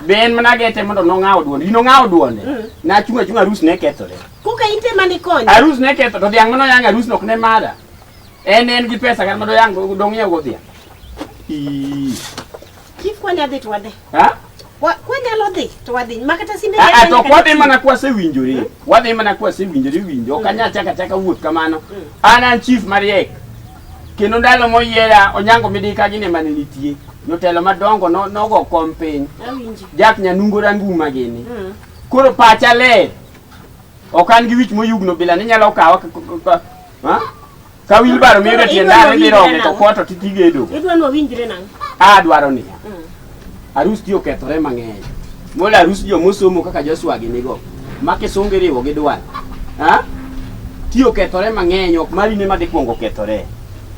Be en mana gete mondo nong'awo duonde. Ino ng'awo duonde. Mm. Na chunga chunga arus ne kethore. Kuka inte mani konyo. Arus ne ketho to dhiang' mano yang arus nok ne mada. En en gi pesa kan mondo yang dong yew go dhiang'. Ii. Chief kwani adhi to wadhi. Ha? Wa- Kwanyalo dhi to wadhi. Makata simbe. Ah, ah, to ok wadhi mana kwasewinjore. Wadhi mana kwasewinjore winjo. Ok anyal chaka chaka wuoth kamano. An an chief mariek. Kendo ndalo moyiera Onyango Midika gine mane nitie. Jotelo madongo no nogo kom piny. Awinji. Jack Nyanungo Ranguma gini. Mm. Koro pacha le. Ok an gi wich moyugno bila ni nyalo kawa k- k- k- ha? ka wilbaro miyo jatiendare dhi roge to koto titigedo. Idwa ni wawinjre nang'o? A dwaro niya. Mm. Arus ti okethore mang'eny. Mola arus jo mosomo kaka Joshua gi nigo. Ma kisungu iriwo gi dwal. Ha? Ti okethore mang'eny ok mari ne ma dhi kwongo kethore.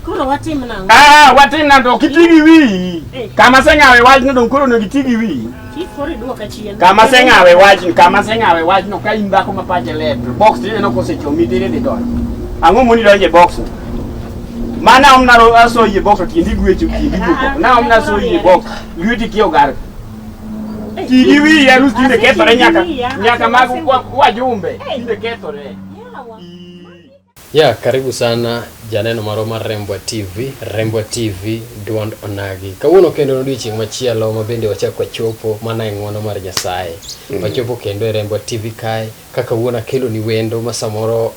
Koro watim nang'o? Ah, watin na to kiti gi wiyi. Eh. Kama seng'awe wachno dong koro onego iti gi wiyi. Chief koro iduoka chien. Kama seng'awe wachno, kama seng'awe wachno ka in dhako ma pache ler to box tineno kosechomi tere dhi donjo. Ang'o moni donjo e box? Ma na omna ro aso yie bok to tindi gwecho tindi boko. Na omna so yie bok. Lweti kio gar. Tindi wi ya rus tinde kethore nyaka nyaka mag wajumbe tinde kethore. Ya, karibu sana janeno marwa mar Rembwa TV, Rembwa TV Duond Onagi. Kawuono kendo en odiechieng' machielo ma bende wachako wachopo mana e ng'wono mar Nyasaye. Wachopo kendo e Rembwa TV kae Ka kawuono akeloni wendo ma samoro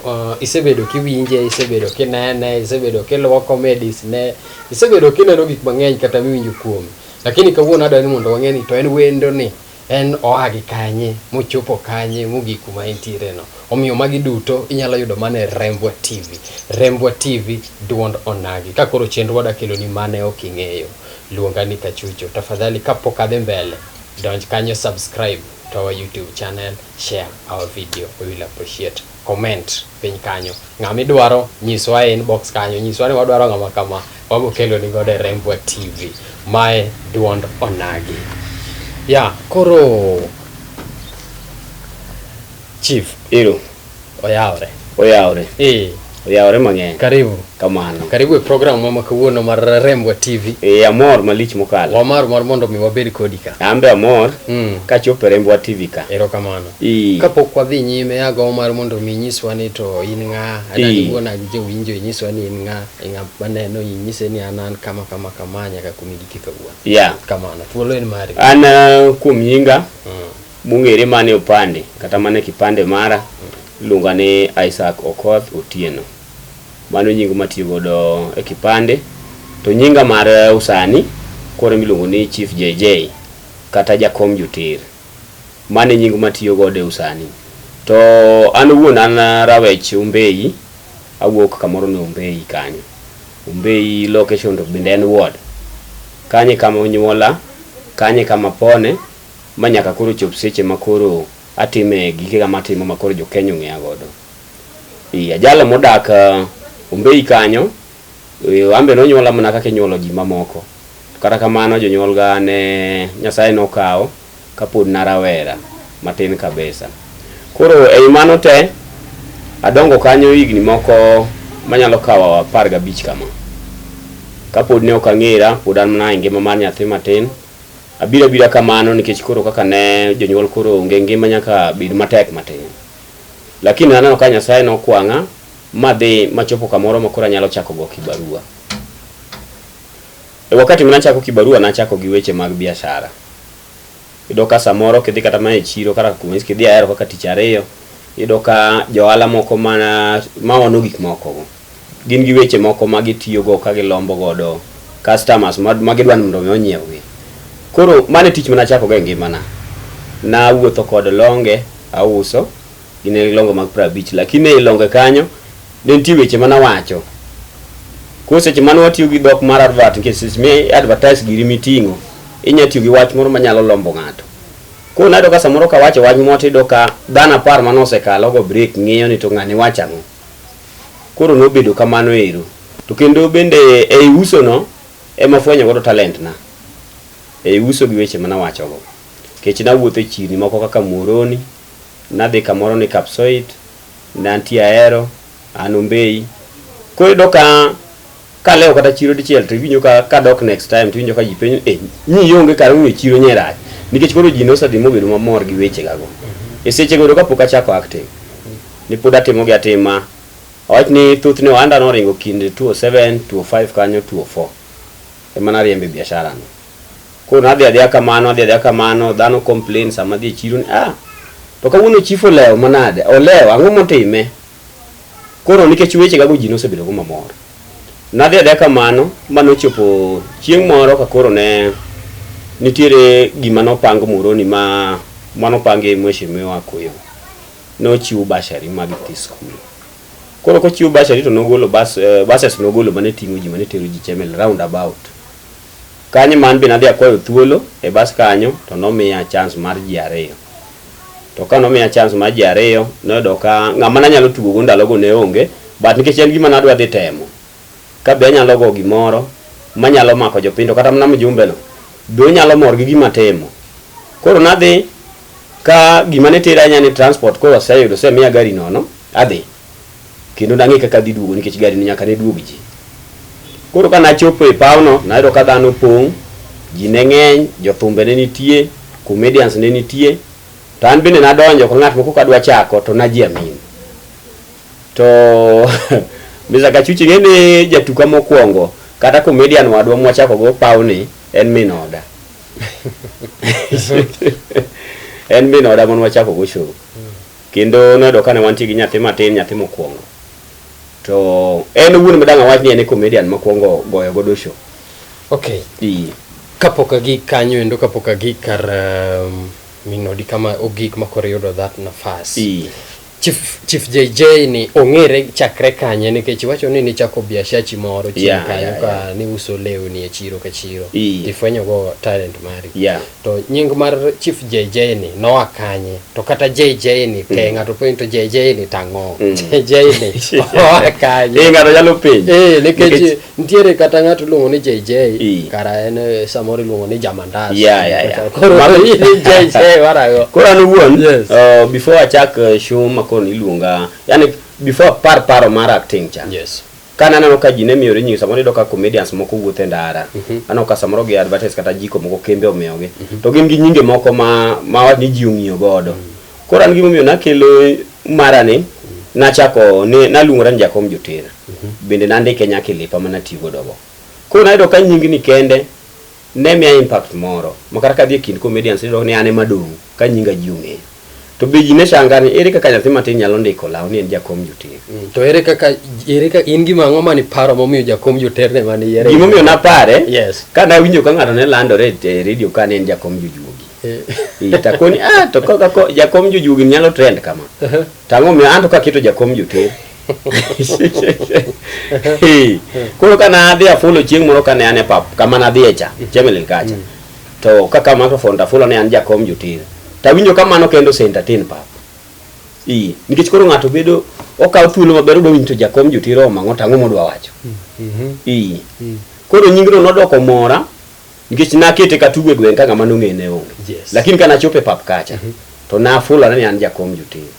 uh, isebedo kiwinje, isebedo kinene, isebedo kiluwo comedies ne, isebedo kineno gik mang'eny kata miwinjo kuome. Lakini kawuono adwaro ni mondo wang'e ni to en wendo ni en oa gi kanye mochopo kanye mogik kuma entiere no. Omiyo magi duto inyalo yudo mana e Rembwa TV. Rembwa TV duond onagi. Ka koro chenrowa da keloni mane ok ing'eyo, luonga ni Kachucho. Tafadhali kapok adhi mbele, donj kanyo subscribe. to our YouTube channel, share our video. We will appreciate. Comment piny kanyo. Ng'ama idwaro nyiswa e inbox kanyo, nyiswa ni wadwaro ng'ama kama, wago kelo ni godo e Rembwa TV. Mae duond onagi. Ya, yeah, koro Chief. Ero. Oyawre. Oyawre. Eh. Oyawre mang'eny. Karibu. Kamano. Karibu e program mama kawuono mar Rembwa TV. Eh, amor malich mokalo. Wamar mar mondo mi wabed kodi ka. An be amor. Mm. Ka chopo e Rembwa TV ka. Erokamano. Eh. Kapok wadhi nyime ago mar mondo mi nyiswa ni to in ng'a, adagi eh. wuona gi jowinjo inyiswa ni in ng'a, ng'a maneno inyise ni an an kama kama kama nyaka kumi giki kawuono. Yeah. Kamano. Thuolo en mari. An uh, kuom nyinga. Mm. mong'ere mana e opande kata mana e kipande mara iluonga ni Isaac Okoth Otieno. Mano e nying matiyo godo e kipande. To nyinga mar usani koro miluongo ni Chief JJ kata Jakom Joter. Mano e nying matiyo godo e usani. To an owuon an Rawech Ombeyi, awuok kamoro ni Ombeyi kanyo. Ombeyi location to bende en ward. Kanyo e kama onyuola, kanyo e kama apone. ma nyaka koro chop seche ma koro atime gikega matimo ma koro jokenya ong'eya godo. Ee ajalo modak Ombei kanyo, an be nonyuola mana kaka inyuolo ji mamoko. To kata kamano jonyuolga ne Nyasaye nokawo kapod na rawera matin kabisa. Koro ei mano te, adongo kanyo higni moko manyalo kawo apar gabich kama. Kapod ne ok ang'era, pod an mana e ngima mar nyathi matin. Abira bira kamano nikech koro kaka ne jonyuol koro onge ngima nyaka bed matek matin. Lakini naneno ka Nyasaye nokwang'a madhi machopo kamoro ma koro anyalo chako go kibarua. E wakati mane achako kibarua nachako gi weche mag biashara. Iyudo ka samoro kidhi kata mana e chiro kata kuma kidhi ahero kaka tich ariyo, iyudo ka johala moko mana maono gik moko go. gin gi weche moko ma gitiyogo ka gilombo godo customers ma gidwa ni mondo mi onyiewgi. Koro mano e tich mane achako go e ngimana. Nawuotho kod longe auso, gin e longe mag piero abich lakini ei longe kanyo ne nitie weche mane awacho. Koro seche mane watiyo gi dhok mar advert nikech seche mi advertise giri miting'o, inya tiyo gi wach moro manyalo lombo ng'ato. Koro nayudo ka samoro kawacho wach moro tiyudo ka dhano apar mane osekalogo break ng'iyo ni to ng'ani wacho ang'o. Koro nobedo kamano ero. To kendo bende ei usono ema afwenyo godo talentna. Ei uso gi weche ma nawachogo. Nikech nawuotho e chirni moko kaka Muhoroni, nadhi kamoro ni Kapsoit, ne antie Ahero, an Ombei. Koro iyudo ka. kalewo kata chiro dichiel to iwinjo ka kadok next time to iwinjo ka ji penjo eh nyi yonge kar ng'iyo chiro nyerach nikech koro ji nosedhi mobedo mamor gi weche gago e seche go kapok achako acting ni pod atimo gi atima awach ni thoth ne ohanda noringo kind 207 205 kanyo 204 ema nariembe biashara no koro nadhi adhiya kamano adhi adhiya kamano dhano complain sama adhi e chiro ni ah to kawuono chief olewo manade olewo ang'o motime Koro nikech weche gago ji nosebedo go mamor, nadhi adhiya kamano ma nochopo chieng' moro ka koro ne nitiere gima nopang Muhoroni ma manopangi Mheshimiwa Akuyo. Nochiw bursary mag nyithi skul. Koro kochiw bursary to nogolo bus, eh, buses nogolo mane ting'o ji mane tero ji Chemel round about. Kanye man be nadhi akwayo thuolo e bus kanyo to nomiya chance mar ji ariyo. To ka nomiya chance mar ji ariyo, noyudo ka ng'ama nanyalo tugo go ndalo go ne onge, but nikech en gima nadwa dhi temo, ka be anyalo go gimoro manyalo mako jopiny to kata mana mjumbe no be onyalo mor gi gima atimo. Koro nadhi ka gima ne tera ahinya ne transport koro aseyudo osemiya gari nono, adhi. kendo nang'e kaka adhi duogo nikech gari ni nyaka ne duog ji. Koro ka nachopo e pawno, nayudo ka dhano opong', ji ne ng'eny, jothumbe ne nitie, comedians ne nitie, to an bende nadonjo ka ng'at moko kadwa chako to najiamin. To Mr. Kachuchi ing'e ni jatuka mokwongo kata comedian wadwa mwachako go pawni en min oda. en min oda mon wachako go show. Kendo noyudo kane wantie gi nyathi matin, nyathi mokwongo. To en owuon madang' awach ni en e comedian mokwongo goyo godo show. Okay. Ii. Kapok agik kanyo endo kapok agik kar um, minodi kama ogik ma koro iyudo that nafas. Ii. Chief, Chief JJ ni ong'ere chakre kanye nikech iwacho ni nichako biashachi moro chien Yeah, kanyo yeah, ka niuso lewni e chiro ka chiro. Ii. Ifwenyogo talent mari. Yeah. To nying mar Chief JJ ni noa kanye? To kata JJ ni pe mm. ng'ato penjo to JJ ni tang'o. Mm. JJ ni oa kanye? Eh ng'ato nyalo penjo. Eh nikech nitiere kata ng'ato luongo ni JJ kara en eh, samoro luongo ni Jamandas. Yeah yeah yeah. Koro ni JJ warago. Koro an wuon yes. uh, before achak eh, show makon iluonga yani before par paro mar acting cha. Yes. Ka naneno ka ji ne miyore nyingi samoro iyudo ka comedians moko wuotho e ndara. Mhm. Aneno ka samoro gi advertise kata jiko moko kembe omiyogi. Mhm. To gin gi nyinge moko ma ma wach ni ji ong'iyo godo. Mhm. Koro an gimomiyo nakelo mara ni nachako ni naluongora ni Jakom Joter. Bende nandike nyaka e lepa mana tiyo godo go. Koro nayudo ka nyingni kende Ne miya impact moro ma kata kadhi e kind comedians iyudo ni an ema adong' ka nyinga ji ong'eyo. To be ji ne changa ni ere kaka nyathi matin nyalo ndiko law ni en jakom joter. Mm, to ere kaka ere ka in gima ang'o mane iparo momiyo jakom joter ne mane yiere? Gima omiyo napare yes. ka nawinjo ka ng'ato ne landore e redio ka ne en jakom jojuogi. Eh. Eh, takoni ah to kaka jakom jojuogi nyalo trend kama. Uh-huh. Tang'o miyo an to kaketo jakom joter. koro ka nadhi afulo chieng' moro kane an e pap kama nadhiye cha mm. chemelil kacha mm. to kaka microphone tafulo ne an jakom jotir tawinjo kamano kendo sentatin pap i nikech koro ng'ato bedo okawo thuolo maber odwa winjo jakom jotir omang'o tang'o modwa wacho mm, mm-hmm. i koro nyingno nodoko mora nikech nakete katugo e gweng' ka ng'ama nong'e ne onge lakini ka nachopo e pap kacha mm-hmm. to nafulo ane ni an jakom jotir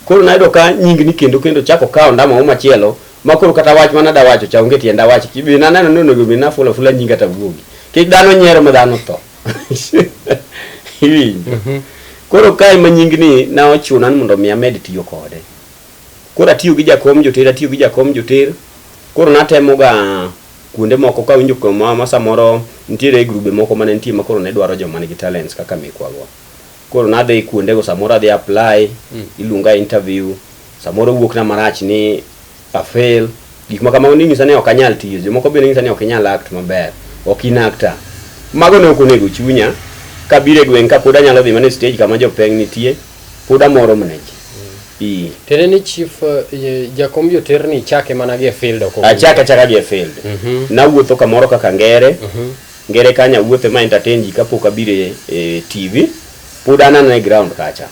Koro nayudo ka nying ni kendo kendo chako kawo ndama moro machielo ma koro kata wach mana da wacho cha onge tienda wach kibi na neno ni onego bina fula fula nyinga ta guogi kik dhano nyiero ma dhano tho iwinjo mhm. koro kae ma nying ni na ochuna ni mondo mi amed tiyo kode koro atiyo gi jakom joter atiyo gi jakom joter koro natemo ga kuonde moko ka winjo kuma ma samoro nitiere grube moko mane nitie ma koro ne dwaro joma nigi talents kaka mikwago Koro nadhi kuondego samoro adhi apply, mm. iluonga interview, samoro wuokna marach ni afail. Gik ma kamago ninyisa ni ok anyal tiyo. Jomoko bende nyisa ni ok inyal act maber, ok in actor. Mago ne ok onego chunya kabire gweng' ka pod anyalo dhi mana stage kama jopeng nitie, pod amoro mana ji. Mm. Tere ni chief eh, jakom joter ni chake mana gi e field ok. Achaka chaka gi e field. Mm -hmm. Nawuotho kamoro kaka ngere. Mm -hmm. Ngere kanyo awuotho ema entertain ji kapok abiro e, e TV. Pod anano e ground kacha.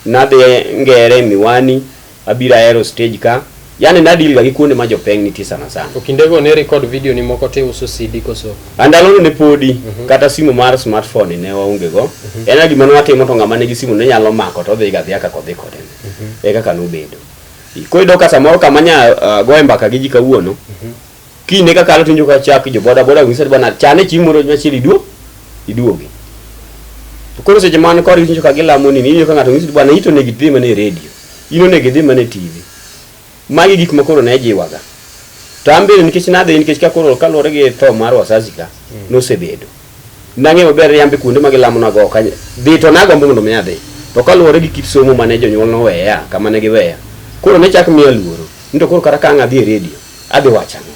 Nadhi ngere miwani, abiro aero stage ka. Yani nadil ga gi kuonde ma jopeng nitie sana sana. To kindego ne record video ni moko te uso CD koso? Andalono ne podi mm -hmm. kata simu mar smartphone ne waonge go. Mm -hmm. En gima nwatimo to ng'ama nigi simu ne nyalo mako to odhi ga dhia kaka odhi kode. Mm -hmm. E kaka nobedo. Koyudo ka samoro kama nya uh, goe mbaka gi ji kawuono. Mm -hmm. Kine ka kalo tinjo ka chak jo boda boda wisad bana chane chieng' moro machiel iduo iduogi. To koro seche man kor tinjo ka gilamo nini inyo ka ng'ato ng'isi bana ito ne gidhi mane redio. Ino ne gidhi mane TV. Magi gik ma koro ne jiwaga. To an bende nikech nadhi nikech ka koro kaluwore gi tho mar wazazi ka nosebedo. Nang'eyo maber ni an be kuonde ma gilamonago ok anyal dhi, to nagombo mondo mi adhi. To kaluwore gi kit somo ma ne jonyuolna oweya kama ne giweya, koro ne chak miya luoro ni to koro kata ka ang' adhi e redio, adhi wacho ang'o?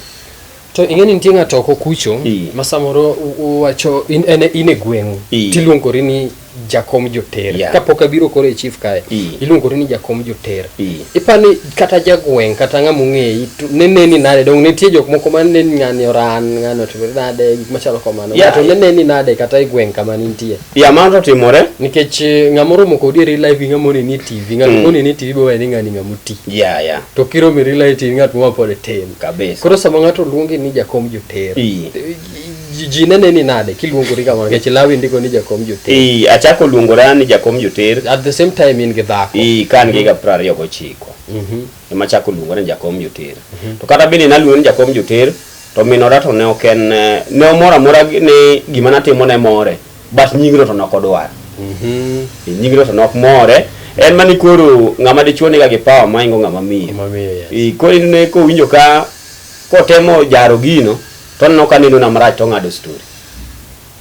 To ing'e ni nitie ng'ato oko kucho ma samoro uwacho in e gweng'u tiluongori ni. jakom joter yeah. kapok abiro koro e chief kae e. iluongori ni jakom joter e. ipani kata jagweng' kata ng'ama ong'eyi neneni nade dong nitie jok moko ma neni ng'ani oran ng'ani otimore nade gik machalo kamano yeah. to neneni nade kata e gweng' kama nintie ya yeah, mano to timore nikech eh, ng'ama oromo kodi e real life gi ng'ama oneni e tv ng'at mm. moneni e tv be wayani ng'ani ng'ama oti yeah, yeah. to kiromi e real life tv ng'at mowapod e tin kabisa koro sama ng'ato luongi ni jakom joter e. Ji- ji nene ni nade kiluongori kamano nikech lawi ndiko ni jakom joter Ii, achako luongora ni jakom joter at the same time in gi dhako Ii, ka an gi higa piero ariyo gochiko Mhm. ema achako luongora ni jakom joter to kata bende naluongo ni jakom joter to minora to ne ok en eh, ne omor amora gi- ni gima natimo ne more but nyingno to ne ok odwar Mhm. Ii, nyingno to ne ok more en mani koro ng'ama dichuo niga gi pawa maingo ng'ama miyo Mamiyo, yes. Ii, koro inene kowinjo ka kotemo jaro gino To aneno ka neno na marach to ong'ado story.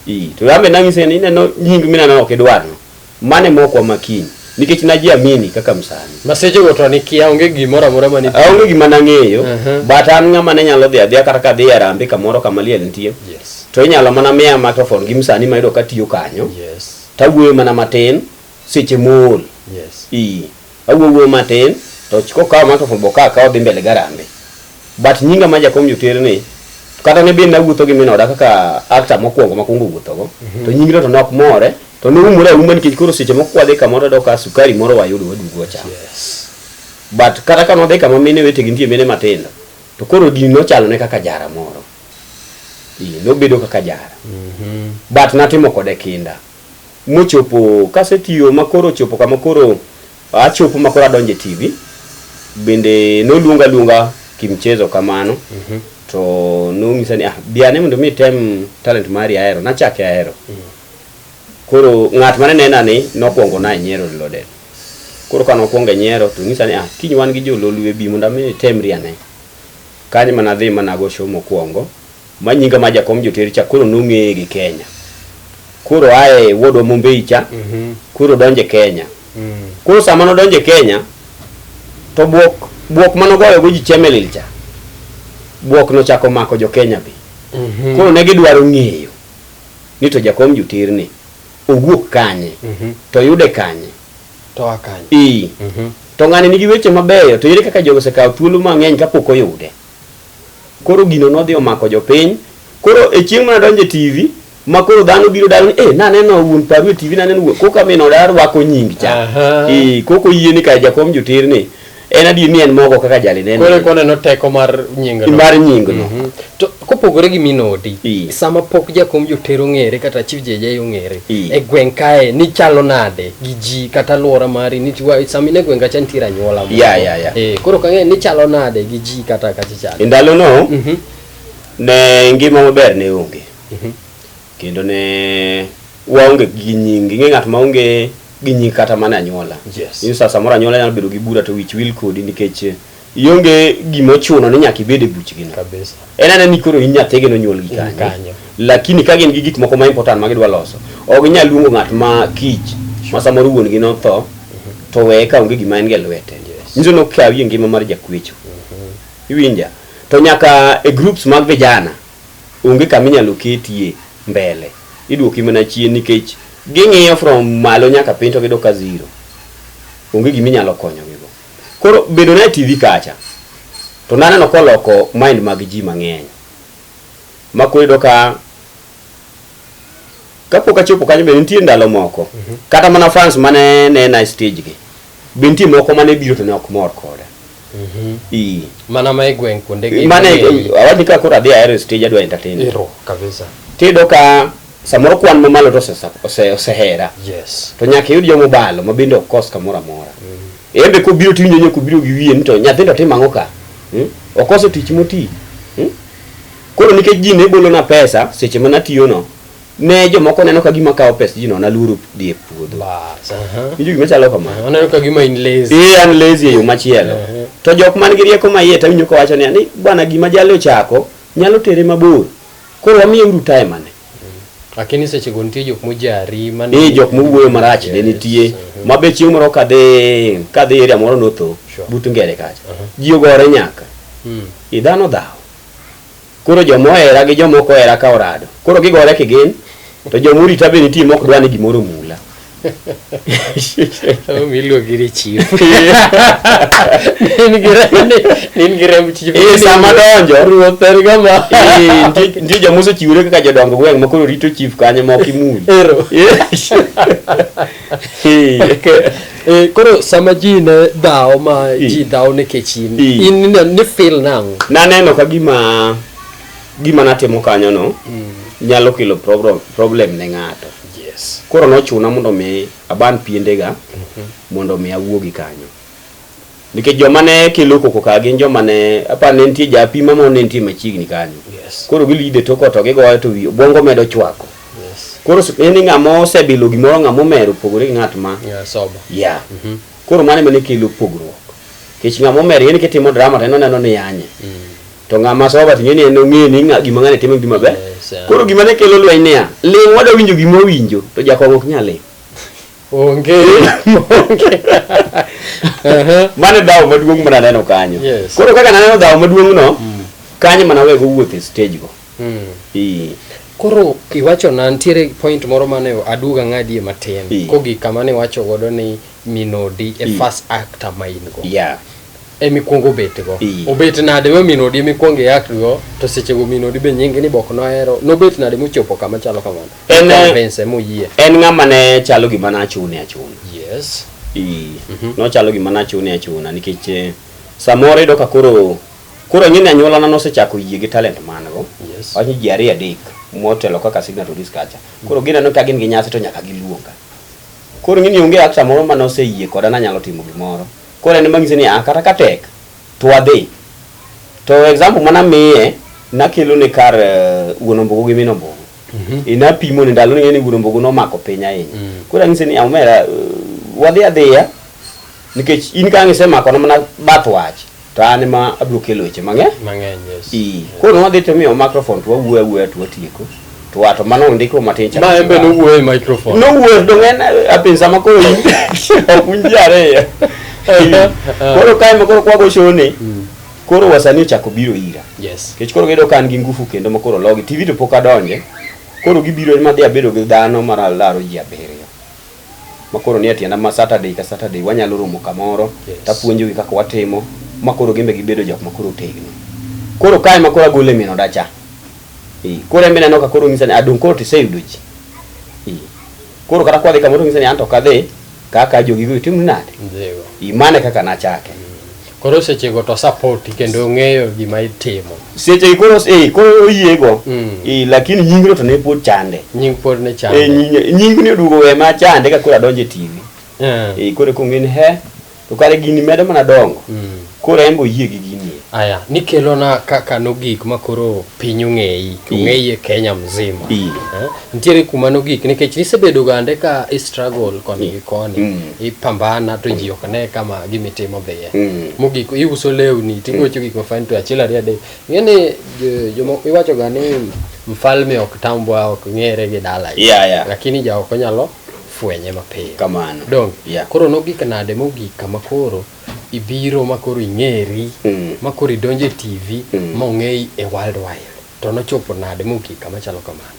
Ii, to yambe nang'ise ni ineno nying mineno ok idwarno. Mane mokwa makiny. Nikech najiamini kaka msani. Masechego to nikia onge gimoro amora mane Aonge gima nang'eyo, Mhm. but an ng'ama ne nyalo dhi adhiya kata ka adhi e Harambee kamoro kama liel nitie. Yes. To inyalo mana miya microphone gi msani ma yudo ka tiyo kanyo. Yes. Tawuoyo mana matin seche mool yes ii awuogo matin to chiko kawo mato fombo ka kawo dhi mbele garambe but nyinga ma jakom jotere ni kata ne bin nawuotho gi minoda kaka actor mokwongo makwongo wuothogo to nyingno to nok more to noumore auma nikech koro seche moko kwadhi kamoro do ka sukari moro wayudo wadugo wachamo yes but kata ka nodhi kama mine wetegi nitie mine matindo to koro din nochalo ne kaka jara moro Ii, nobedo kaka jara but natimo kode kinda mochopo kasetiyo makoro ochopo kama koro achopo makoro adonjo e TV bende noluonga luonga kimchezo kamano mm -hmm. to nong'isa ni ah, biane mondo mi tem talent mari ahero nachake ahero mm -hmm. koro ng'at mane nena ni nokwongo na nyiero lode koro kano kwongo nyiero to ng'isa ni ah, kiny wan gi jololwe bi mondo mi tem riane kanyo mana dhi mana go show mokwongo ma nyinga ma jakom joter cha koro nong'eye gi Kenya. Koro aye wuodwa Mombei cha, Mhm. koro donje Kenya. Mm. Koro sama nodonje Kenya, to buok buok manogoyogo ji Chemelil cha, buok nochako mako jo Kenya be. Mhm. Koro ne gidwaro ng'eyo ni to jakom joter ni owuok kanye, Mhm. to yude kanye. To akany. Ii, Mhm. to ng'ani nigi weche mabeyo, to ere kaka jogo osekawo thuolo mang'eny kapok oyude. Koro gino nodhi omako jopiny. Koro e chieng' mana donje TV ma koro dhano biro daro ni eh naneno wuon paru e TV naneno wuon koka min oda rwako nying cha. Aha. Eh koko yie ni ka jakom jotir ni en adier ni en mogo kaka jali neno. Koro eka oneno teko mar nying no. Mar nying no. Mhm. To kopogore gi min odi, Ii. sama pok jakom joter ong'ere kata chief JJ ong'ere, Ii. e gweng' kae nichalo nade gi ji kata alwora mari nitiwa sami ne gweng' kacha nitiere anyuola moko. Ya, ya, ya. Eh, koro kang'e nichalo nade gi ji ji kata ka ji chande. E ndalono mhm. ne ngima maber ne onge mhm. kendo ne waonge gi nyingi ng'e ng'at ma onge gi nyingi kata mana anyuola yes. in sasa moro anyuola nyalo bedo gi bura to wich wil kodi nikech ionge gima ochuno ni nyaka ibed e buchgino en anani koro in nyathigino onyuol gi kanyo Lakini ka gin gi gik moko ma important ma gidwa loso, ok ginyal luongo ng'at ma kich ma samoro wuon gi notho to weye ka onge gima en go e lwete. Yes. Nyiso ni okawi e ngima mar jakwecho. Iwinja? To nyaka e groups mag vijana onge kama inyalo ketie mbele. Iduoki mana chien nikech ging'iyo from malo nyaka piny to gidok ka zero. Onge gima inyalo konyogi go. Koro bedo na e TV kacha to naneno koloko mind mag ji mang'eny. Ma koro iyudo ka kapok achopo kanyo be nitie ndalo moko mhm. kata mana fans mane nena e stage gi be nitie moko mane biro to ne ok mor koda mhm. i mana ma igweng kuonde gi mane awadi ka koro adhi aero e stage adwa entertain iro kabisa tido ka samoro kwan ma malo to ose osehera yes to nyaka yud jomo balo ma bende ok kos kamora mora mhm. embe ko biro tinyo nyoko biro gi wiye ni to nyathindo timang'o ka hmm? okoso tich moti hmm? Koro nikech ji ne bolona pesa seche ma natiyono, ne jomoko neno ka gima kawo pes ji no naluoro dhi e puodho. Bas, aha. Winjo gima chalo kamano. Oneno ka gima in lazy. Ee an lazy e yo machielo. Ehe. To jok man gi rieko maiye to awinjo kowacho niya ni bwana gima jali ochako nyalo tere mabor. Koro wamiye uru time ane. Lakini seche go nitie jok mojari mane Ee jok mowuoyo marach ne nitie Mhm. ma be chieng' moro kadhi kadhi area moro notho Sure. but ngere kacha. Aha. Ji ogore nyaka. Mm. I dhano dhawo. Koro joma ohera gi joma ok ohera ka orado. Koro gigore kigin to joma orita be nitie ma ok dwa ni gimoro omula. Sama miluongi ni chief. Nin gi remb ni, nin gi remb chief. Eh, sama donjo. Ruoth en gama. Eh, nitie- nitie joma osechiwore kaka jodong gweng' ma koro rito chief kanyo ma ok imuny Ero. Eh, Eh, koro sama ji ne dhawo ma Eh. ji dhawo nikech in, Eh. in ine- ni feel nang'o? naneno ka gima gima natimo kanyono mm. nyalo kelo problem ne ng'ato yes. koro nochuna mondo mi aban piendega mm -hmm. mondo mi awuogi kanyo nikech joma ne kelo koko ka gin joma ne apa ne nitie japima ma ne nitie machiegni kanyo yes. koro gilide toko to gigoye to bongo medo chwako yes. koro ni ng'ama osebilo gimoro ng'ama omero opogore gi ng'at ma yeah, yeah. mm -hmm. koro mano ema ne kelo pogruok nikech ng'ama omer en kitimo drama to en oneno ni yanye mm. to ng'ama soba to ng'eni en ong'eni ng'a gima ng'ane timo gima ber Yes, ah. koro gima ne kelo lweny niya ling' wada winjo gima owinjo to jakong'o ok nyal ling' Onge. Onge. Aha. mano e dhawo maduong' mana neno kanyo Yes. koro kaka naneno dhawo maduong' no kanyo mana wego wuoth e stage go Mm. Ii. Koro iwacho na ntiere point moro mane aduga ng'adie matin Ee. kogi kama ne iwacho godo ni minodi e Ee. first actor ma in go. yeah emi kwongo obet go Iye. obet nade ma min odi emi kwongo iak go to seche go min odi be nyingi ni bok nohero nobet nade mochopo kama chalo kamano En, eh, Convince moyie en ng'ama ne chalo gima nachune achuna yes Ii. nochalo gima nachune achuna nikech eh, samoro iyudo ka koro koro ang'e ni anyuolana nosechako yie gi talent man go Yes. wach ni ji ariyo adek motelo kaka signatories kacha koro gineno ka gin gi nyasi to nyaka giluonga koro ing'e ni onge actor moro ma noseyie koda nanyalo timo gimoro Koro en emang'ise ni ah, kata ka tek to wadhi. To example mana miye nakelo ne kar uh, wuon ombogo gi min ombogo. Mm -hmm. Inapimo ne ndalo ni wuon ombogo nomako piny ahinya. Mm. Koro ang'ise ni omera ah, uh, eh, wadhi adhiya nikech in ka ng'ise mako na mana bath wach to an ma abro kelo weche mang'eny. Mang'eny yes. Ii. Koro wadhi to miyo microphone to wawuoyo awuoya to watieko. Mm. to wato mano ndiko matin cha ma embe no wuoyo e microphone no wuoyo to ng'en apinsa ma koro ok winji ariyo koro kae ma koro kwago shoni hmm. koro wasani ochako biro ira yes kech koro gido kan gi ngufu kendo ma koro logi tv to pok adonje koro gibiro ma dhi abedo gi dhano mar alaro ji abiriyo ma koro ni atienda ma saturday ka saturday wanyalo romo kamoro yes. tapuonjogi kaka watimo ma koro gimbe gibedo jok ma koro tegno koro kae ma koro agole mino dacha Eh, koro embe neno ka koro ng'isa ni adong' koro tiseyudo ji. Eh, Koro kata kwadhi kamoro ng'isa ni anto kadhi kaka jogigo itimo nade. Dhigo. Eh, Mano e kaka nachake. Koro sechego to sapoti kendo ong'eyo gima itimo. Seche gi koro eh, koro oyiego. Mm. Eh, lakini nyingno to ne pod chande. Nying pod ne Eh, chande. nying- nyingni oduogo we ma chande ka koro adonjo e TV. Eh. Eh, koro kong'e ni he To kare gini medo mana dongo. Mm. Koro en boyie gi gini. Aya, nikelo na kaka no gik ma koro piny ong'eyi, ong'eyi e Kenya mzima. Eh? Nitiere kuma no gik nikech nisebedo gande ka i struggle koni gi koni, mm. i pambana to ji ok ne kama gimi timo dhiye. Mm. Mogik i uso lewni, ti gocho mm. gik ma fine to achiel ariya de. Ngene jomo iwacho gani mfalme ok tambwa ok ngere gi dala. Yeah, yeah. Lakini ja ok nyalo fwenye mapiyo. Kamano. Donge? Yeah. Koro nogik nade mogik kama koro ibiro ma koro ing'eri Mm. ma koro idonjo e TV Mm. ma ong'eyi e world wide. To nochopo nade mogik kama chalo kamano.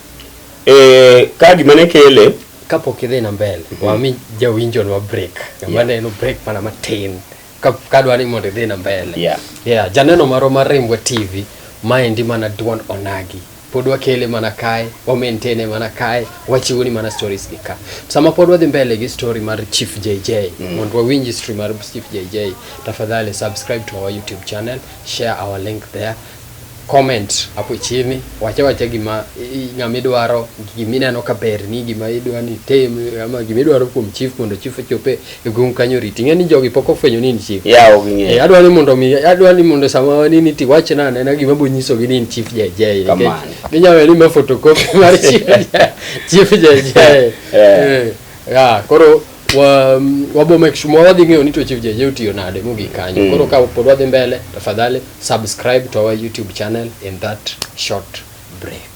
Eh, ka gima ne kele Kapok idhi na mbele, wami jawinjo nwa break. Kama Yeah. neno break mana matin. Ka ka dwa ni mondo idhi na mbele. Yeah. Yeah, janeno marwa mar Rimbwa TV, maendi mana duond onagi. pod wakele mana kae, wa maintain e mana kae, wachiwoni mana stories gi ka. Sama pod wadhi mbele gi story mar Chief JJ, mm. mondo wawinj history mar Chief JJ, tafadhali subscribe to our YouTube channel, share our link there, comment hapo chini, wacha wacha gima ng'ama idwaro, gima ineno ka berni, gima idwani tem, ama gima idwaro kuom chief mondo chief ochope e gweng kanyo riti ing'e ni jogi pok ofwenyo ni in chief ya ok ing'eyo eh, adwa ni mondo mi adwa ni mondo sama wani ni ti wach na nena gima bo nyiso gi ni in chief jay jay kamano ginyalo ni ma photocopy mar chief jay chief jay jay eh. ya koro wa wabo make sure wadhi ng'eyo ni to chief jay jay otiyo nade mogik kanyo mm. koro ka pod wadhi mbele tafadhali subscribe to our youtube channel in that short break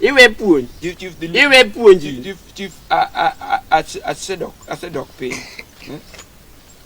iwe puonj Chief, chief, the lead- iwe puonji chief, chief, chief, a, a, a, ase- asedok, asedok piny.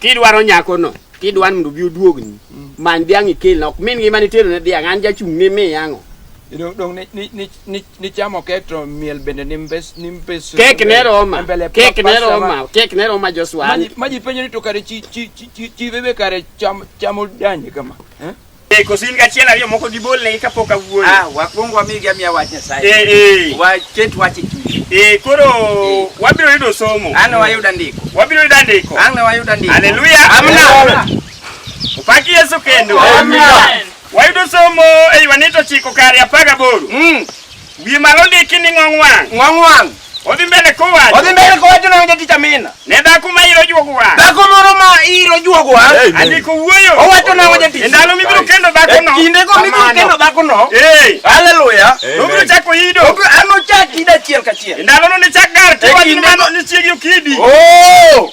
kidwaro nyakono kidwaro mondo bi oduogni many dhiang' ikelna ok min ngima nitero ne dhiang' an jachung' ne mi yang'o You know, dong ni, ni, ni, ni, ni chamo kek to miel bende ni mbes, ni mbes. kek ne roma Mbele kek pa- ne pasta roma ma- kek ne roma Joshua Maji, maji penjo ni to kare chi, chi, chi, chi, chi bebe kare cham, chamo danje kama. Eh? Eh, koso in gachiel ariyo moko gibolnegi kapok awuoyo. Ah, wakwong wamigi amiya wach Nyasaye. Eh, eh. Waket wach e chunye. Eh, koro eh. wabiro yudo somo. Ano wayudo andiko. Wabiro yudo andiko. Ano wayudo andiko. Haleluya. Amina. Upaki Yesu kendo. Amina. Wayudo somo e Yohane 9:18. Mm. Wiye malo ndiki ni ng'ong wang'. Ng'ong wang'. Odhi mbele kowacho. Odhi mbele kowacho na onge tich amina. Ne dhako ma iro juogo wang'. Dhako moro ma iro juogo wang'. Hey, Andiko wuoyo. Owacho na onge tich. Ndalo mibiro kendo dhako no. Kinde ko mibiro kendo dhako no. Hey. Hallelujah. Obiro chako ido. Obiro ano chak ida chiel ka chiel. Ndalo no ni chak gar. Kiwacho ni mano ni chiegi okidi. Oh.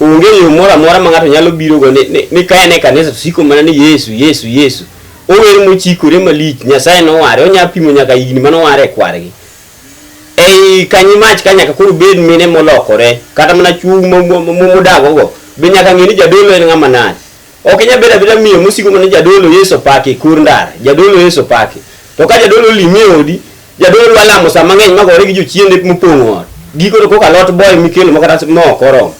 Onge yo moro amora ma ng'ato nyalo birogo ni, ni, ni ka en e kanisa to siko mana ni Yesu, Yesu, Yesu. Ower mochikore malich, Nyasaye noware, onya pimo nyaka higni mane oware e kwargi. Ei kanyi mach ka nyaka koro bed mine molokore, kata mana chwo mo- mo- mo- modagogo, be nyaka ng'e ni jadolo en ng'ama nade. Ok inya bedo abeda miyo mosiko mana ni jadolo Yesu opaki kur ndara, jadolo Yesu opaki. To ka jadolo olimi e odi, Jadolo dwa lamo saa mang'eny magore gi jochiende mopong'o ot. Giko to kok alot boy mikelo ma kata mo ok oromo.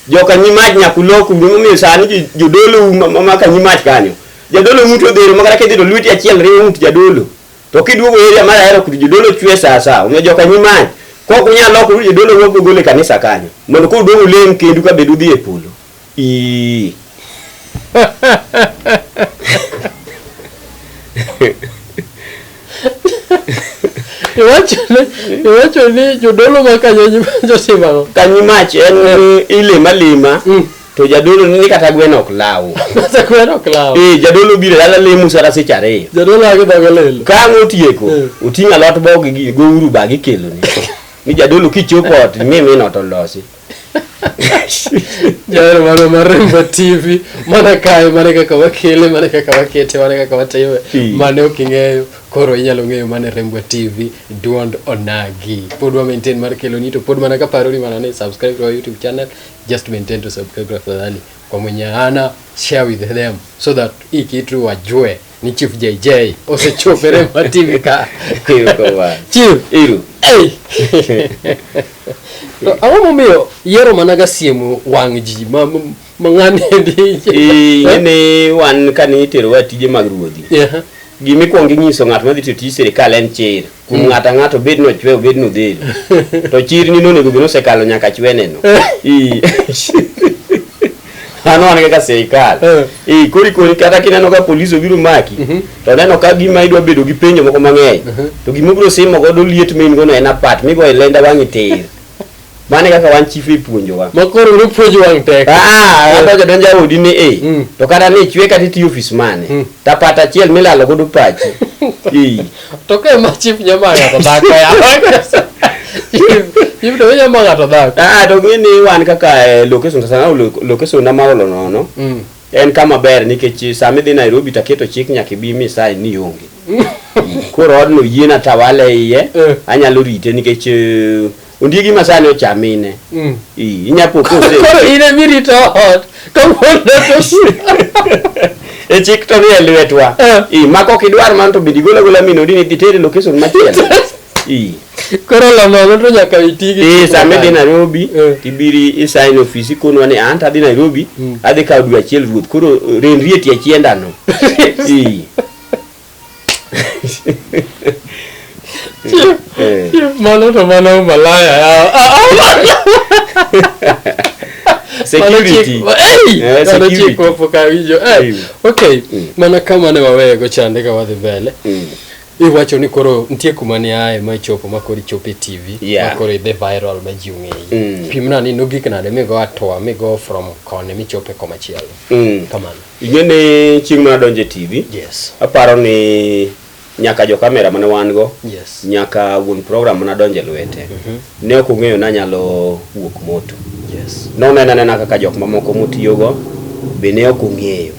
Joka nyi mach nyaka uloku gimomiyo sani jo- jodolo um- ma- ma ka nyi mach kanyo. Jadolo ng'ut odhero ma kata kidhi to lweti achiel riwo ng'ut jadolo. To kiduogo area mar ahero kudu jodolo chwe saa saa. Omiyo joka nyi mach. Kok unyal loko jodolo wuok gole kanisa kanyo. Mondo koduogo ulem kendu ka bedu dhi e polo. Ii. Iwacho ni jodolo ma kanyo josimago. Kanyi mach en mm. ilima lima. Mm. To jadolo ni kata gwen ok law. Kata gwen ok law. Eh jadolo biro yala lemu sara seche ariyo. Jadolo age dogo lelo. Ka ngotieko, mm. oting'a lot bog gi go uru bagi keloni. Ni jadolo kichopo ot mimi no to losi. Jawero marwa mar Rembo TV mana kae mane kaka wakele mane kaka wakete mane kaka watime Mm. mane ok ing'eyo koro inyalo ng'eyo mane Rembo TV duond onagi pod wa maintain mar keloni to pod mana kaparoni mana ni subscribe to our YouTube channel just maintain to subscribe tafadhali kwa mwenye hana share with them so that hii kitu wajue ni Chief JJ osechopo e Rema TV ka. Chief. Iru. Hey. to ang'o momiyo yiero mana ga siemo wang' ji ma ma ng'ani endi. Eh, ni wan kane iterowa tije mag ruodhi. Yeah. Gima ikwongo inyiso ng'at ma dhi tiyo tij sirkal en chir. kuom ng'ato ang'ato obed ni ochwe obed ni odhil to chirni nonego bed nosekalo nyaka chweneno mano wan kaka sirikal eh. koro ikoni kata kineno ka polis obiro maki mhm. to neno ka gima idwa bedo gi penjo moko mang'eny mhm. to gima obiro simo godo liet ma in gono en apat migo e lenda wang'i tir Mane kaka wan chief ipuonjowa. Ma koro uru puonjo wang' tek. Ah, eh. adonjo donja odi ni eh. Mm. To kata ni chwe kata iti office mane. Mm. Tapata achiel milalo godo pachi. Eh. To ke ma chief nyama ng'ato dhako ya. Chief to nyama ng'ato dhako. Ah, to ng'ini wan kaka eh, location sana location na maolo nono. Mm. En kama ber nikech sama idhi Nairobi taketo chik nyaka ibi misai ni onge. Koro odno yiena tawale iye. Eh. Anyalo rite nikech eh, Ondiegi ma sani ocha mine. Mm. Ii, inya po kose. Koro in emi rito ot. Kawuono to E chik to ni e lwetwa. Eh. Ii, ma kok idwar man to bende igolo agola min odi ni dhi tere location machielo. Ii. koro lonono to nyaka iti gi. Ee, sama idhi Nairobi, Eh. tibiri isign ofisi konwa ni an tadhi Nairobi, Mm. adhi kawo dwe achiel ruoth. Koro renri e tie chiendano. Ii. Mano to mana umalaya yao. Ah, Security. Mano chik- Eh, Ei, mano chik security. wapok awinjo. Eh, Ei. Okay, Mm. mana ka mane waweyego chande ka wadhi mbele. Mm. Iwacho ni koro nitie kuma ne aye ma ichopo ma koro ichopo e TV Yeah. ma koro idhi viral ma ji ong'eyi. Mm. Pimna ni nogik nade migo atoa migo from koni michope komachielo. Mm. Kamano. Ing'e ni chieng' mane adonjo e TV, Yes. aparo ni nyaka jo kamera mane wan go, Yes. nyaka wuon program mane adonjo e lwete, ne ok ong'eyo ni anyalo wuok moto. Yes. Nonena nena kaka jok mamoko motiyogo be ne ok ong'eyo.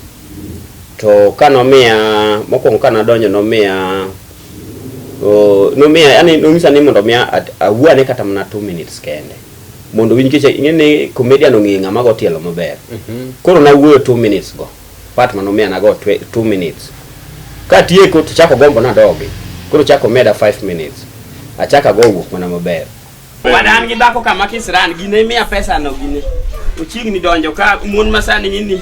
To ka nomiya, mokwongo ka nadonjo nomiya, o, nomiya, yani nonyisa ni mondo omiya at- awuo ane kata mana two minutes kende. mondo winj kicha ing'e ni comedian ong'e ng'ama go tielo maber koro nawuoyo 2 minutes go part mano mia nago 2 minutes katieko to chako gombo nadogi koro chako meda 5 minutes achaka go wuok mana maber wadan gi dhako kama kisran gine miya pesa no gine ochiegni donjo ka mon masani ng'ini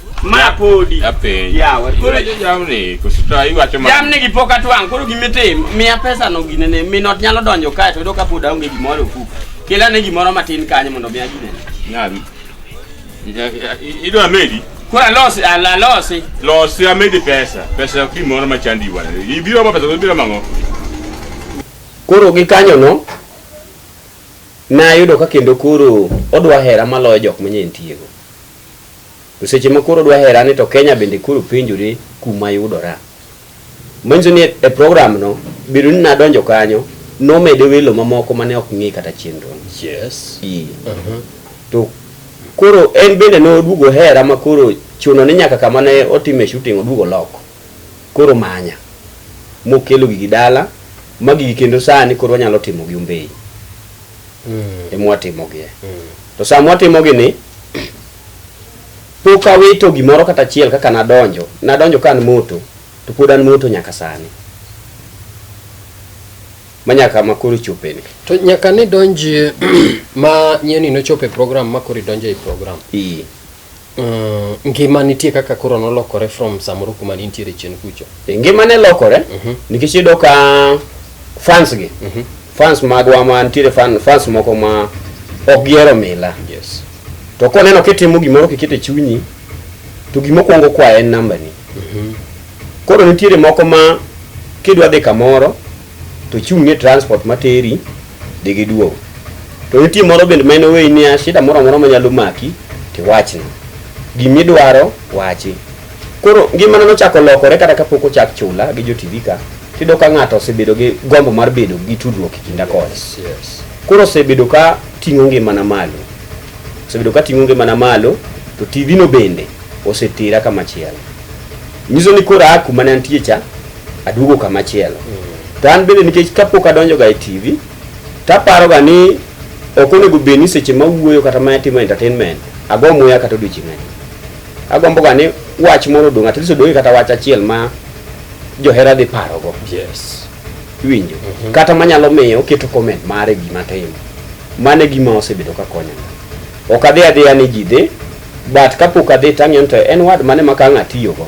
Ma podi. Apenjo. Yawa. Koro Koro jamni kusita iwacho ma. jamni gi pok atwang' koro gimitimo miya pesa no gine ne minot nyalo donjo kae to yudo ka pod aonge gimoro e ofuko kela ne gimoro matin kanyo mondo miya gine Nyabi. Idwa medi? koro alosi al- alosi Losi amedi pesa. Pesa ok gimoro ma chandi wana. Ibiro ma pesa to ibiro mang'o? koro gi kanyo no nayudo ka kendo koro odwa hera maloyo jok manyentiego To seche ma koro dwa hera ni to Kenya bende koro penjore kuma yudora. Manyiso ni e program no, bedo ni nadonjo kanyo, nomede welo mamoko mane ok ng'e kata chenro no. Yes. Ee. Uh -huh. To koro en bende noduogo hera ma koro chuno ni nyaka kama ne otime shooting oduogo loko. Koro manya. Mokelo gigi dala, ma gigi kendo sani koro wanyalo timo gi Ombeyi. mm. emwatimogie mm. to sa mwatimogi ni pok awito gimoro kata achiel kaka nadonjo nadonjo ka an moto to pod an moto nyaka sani manyaka makoro chopeni to nyaka ni donji ma nyeni nochope program makoro idonjo e program Ii. Mm, ngima nitie kaka koro nolokore from samoro kuma nintiere chien kucho. Eh, ngima ne lokore mm -hmm. nikech iyudo ka fans gi mm -hmm. fans magwa ma nitiere fan, fans moko ma ok gihero mila yes. to koneno kitimo gimoro kikete chunyi to gimokwongo kwayo en nambani mm -hmm. koro nitiere moko ma kidwa dhi kamoro to chung' ne transport materi dhi gi duogo. To nitie moro bende ma inoweyi niya shida moro amora manyalo maki tiwachna. Gimidwaro wachi. Koro ngimana nochako lokore kata kapok ochak chula gi jo TV ka, tiyudo ka ng'ato osebedo gi gombo mar bedo gi tudruok e kinda kode. Yes, yes. Koro osebedo ka ting'o ngimana malo. Osebedo ka ting'o ngimana malo to TV no bende osetera kamachielo. Nyiso ni koro aa kuma ne antie cha aduogo kama chielo to an bende nikech kapok adonjoga e tv taparoga ni ok onego bed ni seche ma wuoyo kata ma atimo entertainment ago muya kata odiochieng' adi agomboga ni wach moro odong' at least odong'e kata wach achiel ma johera dhi parogo yes iwinjo Mhm. kata manyalo miyo oketo comment mare gima timo mano e gima osebedo ka konyoga ok adhi adhiya ni ji dhi but kapok adhi tang'iyo ni to en wad mane ma ka ang' atiyogo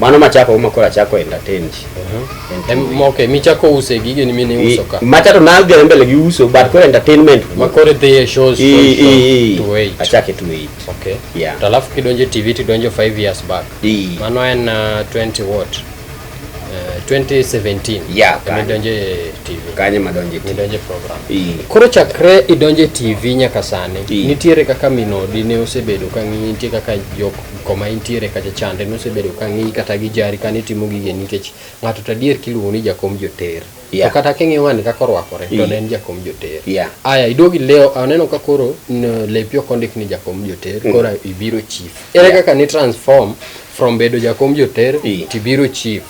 mano machako ma koro achako entertain ji Mhm. Okay, michako use gige ni mine uso ka. macha to nadhi adhi mbele gi uso but koro entertainment Ma koro dhi e shows to I- show i- i- to wait. achake to wait Okay. Yeah. To alafu kidonjo e TV tidonjo 5 years back. I- Mano en uh, 20 what? Uh, 2017. Yeah, Ema kanyo. idonjo e TV. kanye madonje ti Idonjo e program. I- Koro chakre idonjo e TV nyaka sani, I. nitiere kaka minodi ne osebedo ka ng'iyi, nitie kaka jok koma intiere kacha chande nosebedo ka ng'iyi kata gi jari kane itimo gige nikech ng'ato to adier kiluongo ni jakom joter yeah. to kata king'iyo ng'ani kaka orwakore to ne en jakom joter yeah. aya iduogi leo aneno ka koro lepi ok ondik ni jakom joter mm. koro ibiro chief ere yeah. kaka ni transform from bedo jakom joter yeah. tibiro chief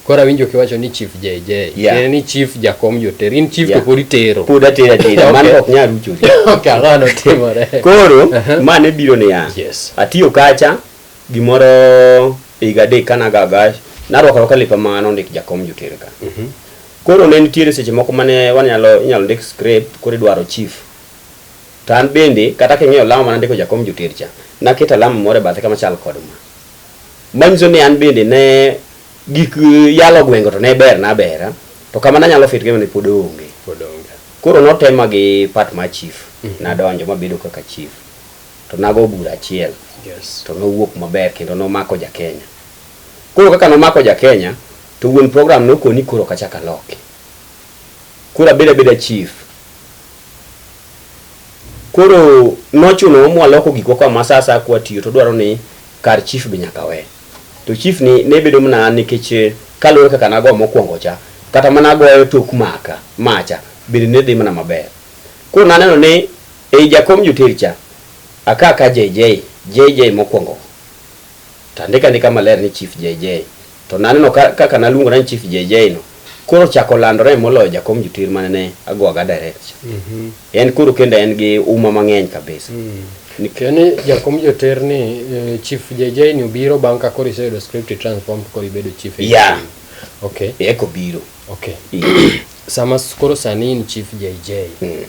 Koro awinjo kiwacho ni chief JJ. Yeah. Tiende ni chief jakom joter. In chief Yeah. to pod itero. pod atera atera mano Okay. ok nyal ruchori Okay, ang'o notimore? koro Aha. mane biro niya Yes. atiyo kacha gimoro higa adek kanagaga narwako rwaka lepa ma nondik jakom jotere ka Mhm. koro ne nitiere seche moko mane wanyalo inyalo ndik script koro idwaro chief to an bende kata king'eyo lama mana ndiko jakom joter cha naketo alama moro e bathe kama chal kod ma Manyiso ni an bende ne gik yalo gwengo to ne ber na bera to kama nanyalo fit gima ne pod onge. Pod onge. Koro notema gi part ma chief mm -hmm. nadonjo mabedo kaka chief to nago bura achiel yes. to nowuok maber kendo nomako ja Kenya. Koro kaka nomako ja Kenya to wuon program nokoni koro kachaka loki. Koro abeda beda chief Koro nochunowa mwaloko gikwa kwa ma sa asaya kwatiyo to dwaro ni kar chief be nyaka we. To chief ni ne bedo mana an nikech kaluwore kaka nago mokwongo cha, kata mana agoyo tok maka macha bende ne dhi mana maber. Koro naneno ni ei jakom joter cha, aka ka JJ, JJ mokwongo go. To andika andika maler ni Chief JJ. To naneno ka kaka naluongora ni Chief JJ no, koro ochako landore moloyo jakom jotir mane ne agoaga direct cha. En koro kendo en gi uma mang'eny kabisa. Ni- Yaani jakom joter ni eh, Chief JJ ni obiro bang' ka koro iseyudo script transform koro ibedo chief. Yeah. Okay. Eko biro. Okay. Sama s- koro sani in Chief JJ. Mm.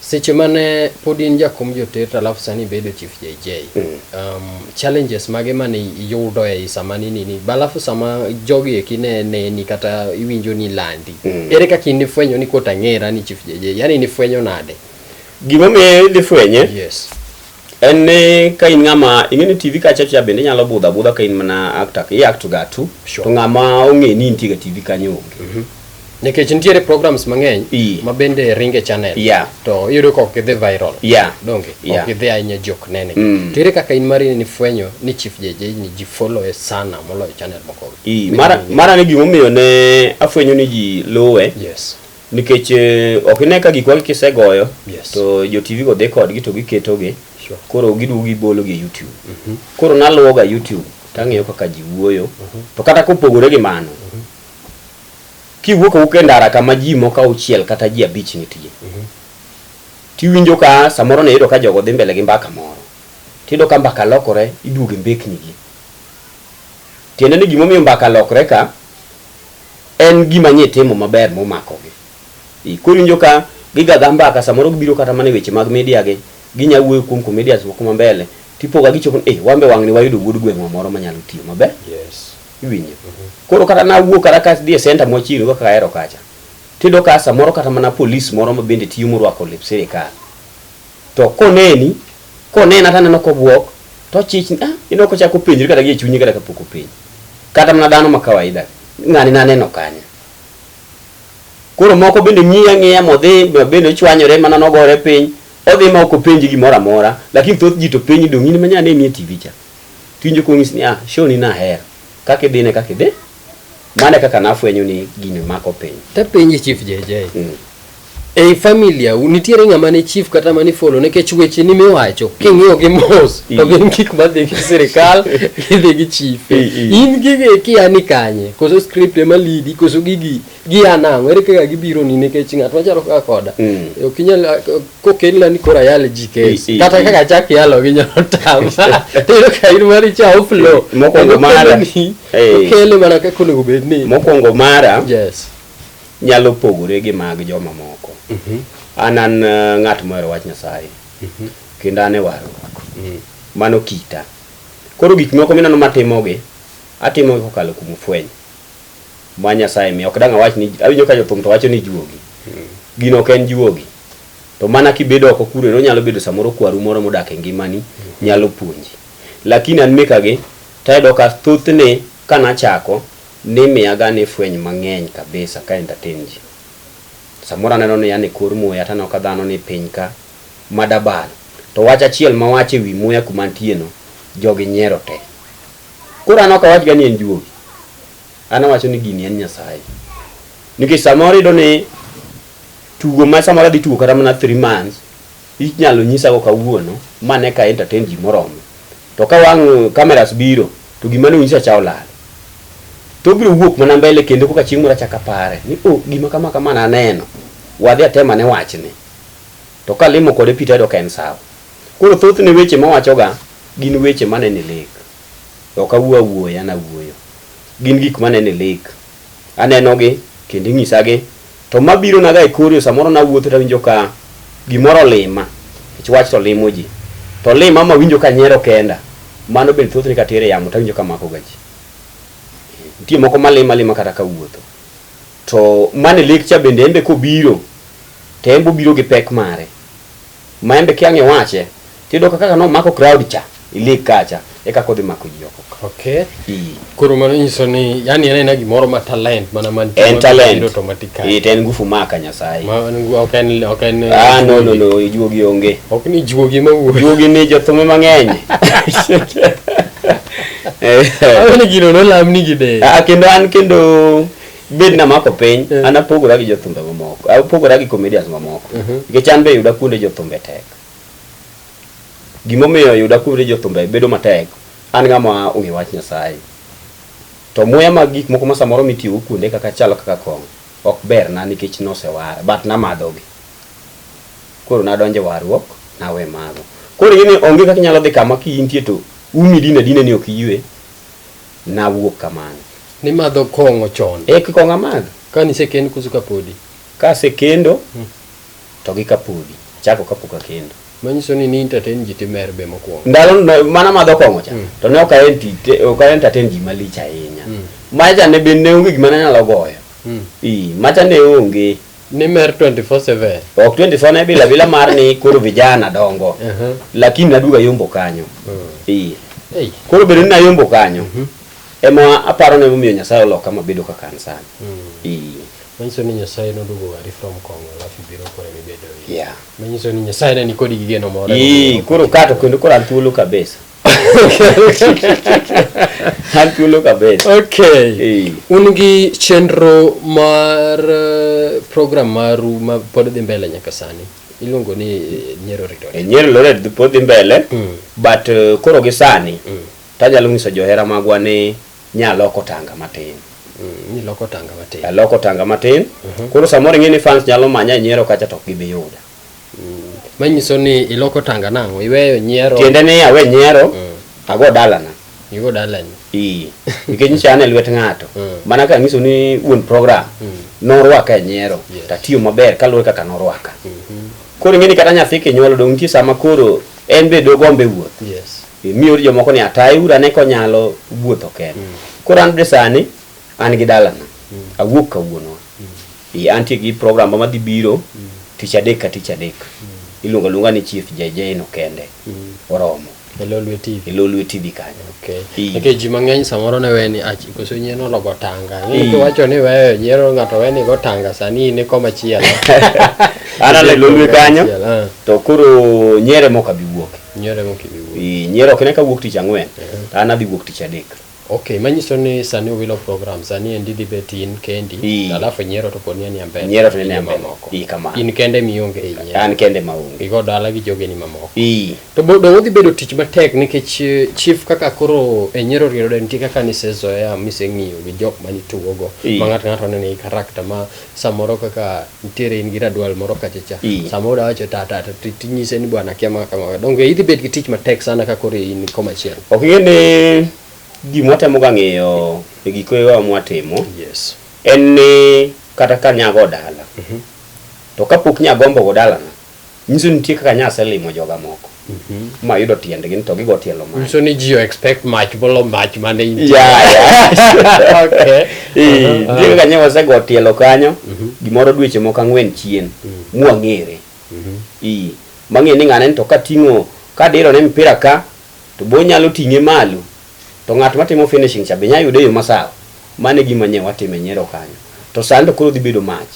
Seche mane pod in jakom jotet alafu sani ibedo chief JJ, mm. um, challenges mage mane iyudo e sama nini ni balafu sama jogi eki ne neni kata iwinjo ni landi mm. ere kaka in ifwenyo ni kota ng'era ni chief JJ yani ni fwenyo nade gima miyo idhi fwenye yes En ni ka in ng'ama ing'e ni TV kacha cha bende inyalo budho abudha ka in mana actor i act ga tu Sure. to ng'ama ong'e ni intie ga TV kanyo onge. nikech nitiere programs mang'eny Ii. ma bende ringe channel Yeah. to iyudo ka ok gidhi viral Yeah. donge Yeah. ok gidhi ahinya jok nene Mm. to ere kaka in mari ni fwenyo ni chief JJ ni ji follow e sana moloyo channel moko I, mara mara ni gimomiyo ne afwenyo ni ji luwe yes nikech eh, ok ine ka gikwa kisegoyo Yes. to jo tv go dhi kodgi to giketogi Sure. koro giduogo gibologi e youtube koro naluwoga youtube tang'eyo kaka ji wuoyo to kata kopogore gi mano kiwuok awuok e ndara kama ji moko auchiel kata ji abich nitie tiwinjo ka samoro niyudo ka jogo dhi mbele gi mbaka moro tiyudo ka mbaka lokore iduogo e mbeknigi tiende ni gimomiyo mbaka lokre ka En gima nye timo maber momakogi. Ii, Koro iwinjo ka gigaga mbaka samoro gibiro kata mana e weche mag media gi, ginya wuoyo kuom comedians moko ma mbele to ipoga gichopo ni eeh wanbe wang'ni wayudo wuod gweng'wa moro manyalo tiyo maber. Yes. Iwinjo? Koro kata nawuok kata ka adhi e centre machiegni go kaka ahero kacha, tiyudo ka samoro kata mana police moro mabende tiyo morwako lep sirikal to koneni, Konena to aneno kobuok, to ochich, ah, ineno kochako penjre kata gie chunye kata kapok openj. Kata mana dhano ma kawaida, ng'ani naneno kanye. Koro moko bende ng'iya ng'iya modhi bende ochwanyore mana nogore piny, odhi ma ok openji gimoro amora, lakini thoth ji to penji dong' in ma nyane nie TV cha. Tiwinjo kong'is ni ah, show ni nahero. Kaka idhine kaka idhi, Mane kaka nafwenyo ni gini mako piny. Tapenji Chief JJ. Mm. Ei familia nitiere ng'ama ne chief kata mane follow nikech weche ni miwacho king'iyo gi mos to mm. gin gik madhi gi sirikal gidhi gi chief. In gigi kia ni kanye koso script ema lidi koso gigi gia nang'o ere kaka gibironi nikech ng'at machalo kaka koda mm. ok inyal kokelna ni koro ayal ji kes kata kaka achak yalo gi nyalo tama tiyudo ka in mari cha oflo mokwongo mara okele mana kaka onego bed ni mokwongo mara yes nyalo pogore gi mag joma moko mhm. an an eh, ng'at mohero wach nyasaye mhm. kendo an e warruok mm. mano kita koro gik moko mineno matimogi atimogi kokalo kuom fweny ma Nyasaye miyo. Ok dang' awach ni awinjo ka jothum to wacho ni juogi. Gino ok en juogi. To mana kibedo oko kure onyalo bedo samoro kwaru moro modak e ngimani nyalo puonji. Lakini an mekagi tayudo ka thothne ka nachako nimiyaga ni fweny mang'eny kabisa ka entertain ji. Samoro aneno ni an e kor muya to aneno ka dhano ni piny ka ma dabal. To wach achiel mawacho e wi muya kuma antieno jogi nyiero te. Koro an ok awachga ni en juogi, an awacho ni gini en Nyasaye. Nikech samoro iyudo ni tugo ma samoro adhi tugo kata mana three months, inyalo nyisago kawuono mane ka entertain ji moromo. To ka wang' cameras biro, to gima ne onyisa cha olal. To obiro wuok mana mbele kendo koka chieng' moro achak apare ni oh, gima kama kama naneno, wadhi atem ane wachni. To ka limo kode pi to ayudo ka en sawa. Koro thothne weche mawachoga gin weche maneno e lek. Ok awuo awuoya ni awuoyo. Gin gik maneno e lek. Anenogi kendo inyisagi. To mabironaga e kor yo samoro nawuotho to awinjo ka gimoro olima nikech wach to limo ji. To olima ma awinjo ka anyiero kenda. Mano bende thothne ka atero e yamo to awinjo ka makoga ji. Nitie moko malima alima kata kawuotho. To man e lek cha bende en be kobiro. to enbe obiro gi pek mare ma enbe kia ng'e wache tiyudo ka kaka nomako crowd cha e league kacha e kaka odhi mako ji oko ka. Okay. Ii. Koro mano nyiso ni yani en aina gimoro ma talent mana man En talent. automatically. Ii, to en ngufu maka Nyasaye. Ma en gu- ok en ok en Ah, no, no, no, juogi onge. Ok ni juogi ma wuoyo. Juogi ni jothumbe mang'eny. Eh. Awene gino nolamni gi de. Ah, kendo an kendo bed na mako piny mm. an apogora gi jothumbe mamoko apogora gi comedians mamoko mm -hmm. nikech an be yuda kuonde jothumbe tek gimomiyo yuda kuonde jothumbe bedo matek an ng'ama ong'e wach nyasaye to muya mag gik moko ma samoro mitiyogo kuonde kaka chalo kaka kong ok ber na nikech nosewara but namadhogi koro nadonje warruok nawe mago koro ing'e ni onge kaka inyalo dhi kama kiintie to umi dine dine ni ok iywe Nawuok kamano. Nimadho kong'o chon. Eki kong'o amadh. Kane isekend koso kapodi? Kasekendo to gi kapodi. Achako kapok akendo. Manyiso ni ni entertain ji timer be mokwongo. Ndalo no mana madho kong'o cha mm. to ne ok aentite ok aentertain ji malich ahinya. Mm. Macha ne be ne onge gima nanyalo goyo. Mm. Ii, macha ne onge. ni mer 24/7 ok 24 ne bila bila mar ni koro vijana dongo Aha. lakini naduga yombo kanyo Ee. Ei. koro bedo ni nayombo kanyo ema aparo ni emomiyo nyasaye oloka mabedo kaka an sani Ee. manyiso ni nyasaye noduogo wari from kongo alafu ibiro kore mibedo Yeah. manyiso ni nyasaye ne nikodi gi geno moro Ee, koro kato kendo koro an thuolo kabisa an thuolo kaber okay hey. un gi chenro mar eh, program maru ma pod dhi mbele nyaka sani iluongo ni eh, nyero ritore eh, nyero lored pod dhi mbele mm. but uh, koro gi sani mm. tanyalo nyiso johera magwa ni nyaloko tanga matin mm, iloko tanga matin aloko tanga matin uh mhm. -huh. koro samoro ing'e ni fans nyalo manya e nyero kacha to ok gibi yuda manyiso ni iloko tanga nang'o iweyo nyiero tiende ni awe nyiero mm. ago dalana igo dalani ii nikech nyicha an e lwet ng'ato mm. mana ka nyiso ni wuon program mm. norwaka e nyiero yes. tatiyo maber kaluwore kaka norwaka mm -hmm. koro ing'e ni kata nyathi kinyuolo dong' nitie sama koro en be dogombe wuoth yes. E, miyo jomoko ni ataye ura ne konyalo wuotho kende mm. koro an be sani an gi dalana mm. awuok kawuono Ee antie gi program ma madhi biro tich adek ka tich adek. Iluonga luonga ni Chief JJ no kende. Oromo. E Lolwe TV. E Lolwe TV kanyo. Okay. Ee. Nikech ji mang'eny samoro ne we ni achi koso nyien ologo tanga. Ee. Ni kiwacho ni weyo nyiero ng'ato we ni go tanga sani in iko machielo. An ale Lolwe kanyo Machielo, ah. to koro nyere mok abi wuok. Nyiero mokibi wuoyo. Ee, Nyere ok ne ka wuok tich ang'wen. An adhi wuok tich adek. Ok, manyiso ni sani uwilo program, sani endi dhi bet in kendi, Ii. alafu nyiero to poni anie mbele. Nyiero to anie gi mbele. jomamoko. Ii, kamano. In kende ema ionge ei nyiero. An kende ma onge. Igo dala gi jogeni mamoko. Ii. To bo- donge odhi bedo tich matek nikech eh, chief kaka koro e nyiero riero de nitie kaka nisezoea miseng'iyo gi jok manitugogo Ii. ma ng'ato ng'ato nene i karakta ma Samoro kaka nitiere in gi radwal moro kacha cha. Ii. Samoro da wacho ta ta ta ti- tinyise ni bwana akia ma kama. Donge idhi bet gi tich matek sana ka koro in koma chiel. Ok ing'e ni gima watemo ga ng'eyo e giko ewa mwatimo Yes. en ni kata ka nyago dala to kapok nyagombo go dalana Nyiso ni nitie kaka nyase limo joga moko ma yudo tiendgi ni to gigo tielo mach. Nyiso ni ji o expect mach bolo mach mane in. Yeah, yeah. Okay. Eh, nitie kaka nyewe osego tielo kanyo gimoro dweche moko ang'wen chien mwang'ere Ii, mang'e ni ng'ane ni to kating'o kadiro ne mpira ka to bo nyalo ting'e malo to ng'at matimo finishing cha be nya yude yo masawa mane gima nyewe watime nyero kanyo to sani to koro dhi bedo mach